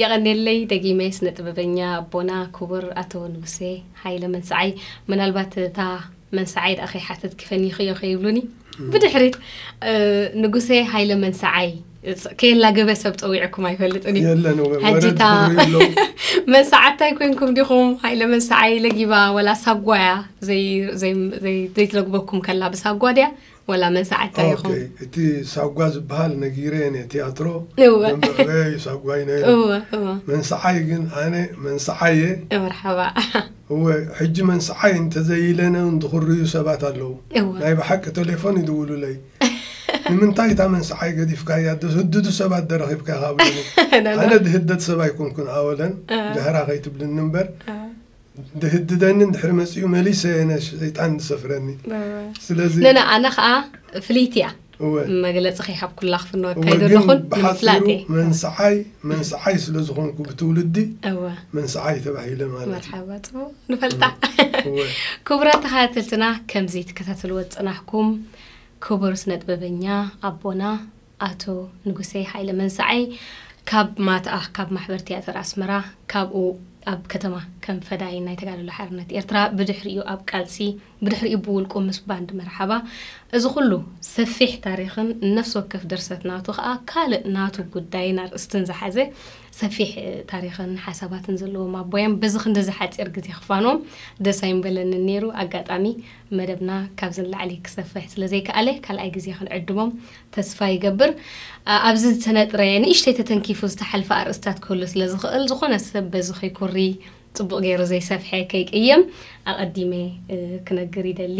የቐኔለይ ደጊመ ስነ ጥበበኛ ኣቦና ኩቡር ኣቶ ንጉሴ ሃይለ መንስዓይ ምናልባት እታ መንስዓይ ደኣ ከይሓተትኪ ፈኒኽዮ ከይብሉኒ ብድሕሪት ንጉሴ ሃይለ መንስዓይ ከየላ ገበ ሰብ ፀዊዕኩም ኣይፈልጥን እዩ የለን ወ- ወረድ ሕጂታ ክብሉ የለዉ። መሳዓታ ኣይኮንኩም ዲኹም ሃይለ መሳዓ ይለጊባ ወላ ሳጓ እያ ዘይ- ዘይ- ዘይ- ዘይትለግበኩም ከላ ብሳጓ ድያ ወላ መሳዓታ ኦኬ፣ ኢኹም እቲ ሳጓ ዝበሃል ነጊረ እየ ነየ ትያትሮ እወ። ደንበዕበ እዩ ሳጓ እዩ ነይሩ እወ እወ መንስዓይ ግን ኣነ መንስዓይ እየ መርሓባ እወ ሕጂ መንስዓይ እንተዘይለነ እውን ዝኽርዩ ሰባት ኣለዉ እወ ናይ ብሓቂ ቴሌፎን ይድውሉለይ ንምንታይ እታ መንስዓይ ገዲፍካያ ድህድዱ ሰባት ዶ ረኺብካ ኢኻ ኣብሉኒ ኣነ ድህደድ ሰብ ኣይኮንኩን ኣወለን ጃህራ ከይትብልኒ እምበር ድህድደኒ እንድሕሪ መጺኡ መሊሰ የነ ሸይጣን ዝሰፍረኒ ስለዚ ነነ ኣነ ከዓ ፍልይቲ እያ መግለፂ ከይሃብኩላ ክፍኖ ካይዶ ኣለኹን ንምፍላጥ እየ መንስዓይ መንስዓይ ስለ ዝኾንኩ ብትውልዲ መንስዓይ ተባሂለ ማለት መርሓባ ፅቡቅ ንፈልጣ ክቡራት ተኸታተልትና ከምዚ ትከታተልዎ ዝፀናሕኩም ክቡር ስነጥበበኛ ኣቦና ኣቶ ንጉሴ ሃይለ መንሳዓይ ካብ ማትኣ ካብ ማሕበር ትያትር ኣስመራ ካብኡ ኣብ ከተማ ከም ፈዳይን ናይ ተጋድሎ ሓርነት ኤርትራ ብድሕሪኡ ኣብ ቃልሲ ብድሕሪኡ ብውልቁ ምስ ባንድ መርሓባ እዚ ኩሉ ሰፊሕ ታሪኽን ነፍሲ ወከፍ ድርሰት ናቱ ከኣ ካልእ ናቱ ጉዳይን ኣርእስትን ዝሓዘ ሰፊሕ ታሪኽን ሓሳባትን ዘለዎም ኣቦያም በዚ ክንዲ ዝሓጺር ግዜ ክፋኖም ደስ ኣይምበለንን ነይሩ ኣጋጣሚ መደብና ካብዚ ንላዕሊ ክሰፍሕ ስለ ዘይከኣለ ካልኣይ ግዜ ክንዕድሞም ተስፋ ይገብር። ኣብዚ ዝተነጥረ ንእሽተይ ተተንኪፉ ዝተሓልፈ ኣርእስታት ክህሉ ስለ ዝኽእል ዝኾነ ሰብ በዚ ከይኩሪ ጽቡቕ ገይሩ ዘይሰፍሐ ከይቅየም ኣቐዲመ ክነግር ይደሊ።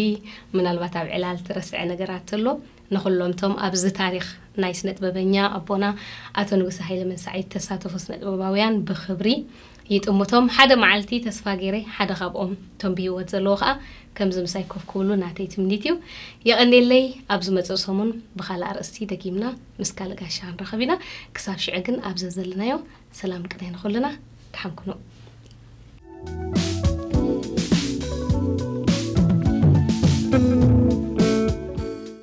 ምናልባት ኣብ ዕላል ትረስዐ ነገራት ተሎ ንኹሎም እቶም ኣብዚ ታሪኽ ናይ ስነጥበበኛ ኣቦና ኣቶ ንጉሰ ሃይለ መንሳዒ እተሳተፉ ስነጥበባውያን ብኽብሪ ይጥምቶም። ሓደ መዓልቲ ተስፋ ገይረ ሓደ ካብኦም እቶም ብህይወት ዘለዎ ከኣ ከምዚ ምሳይ ኮፍ ክብሉ ናተይ ትምኒት እዩ። የቐኔለይ ኣብ ዝመጽእ ሰሙን ብኻልእ ኣርእስቲ ደጊምና ምስ ካልእ ጋሻ ክንራኸብ ኢና። ክሳብ ሽዑ ግን ኣብ ዘዘለናዮ ሰላም ቅነ ንኹልና። ደሓን ኩኑ።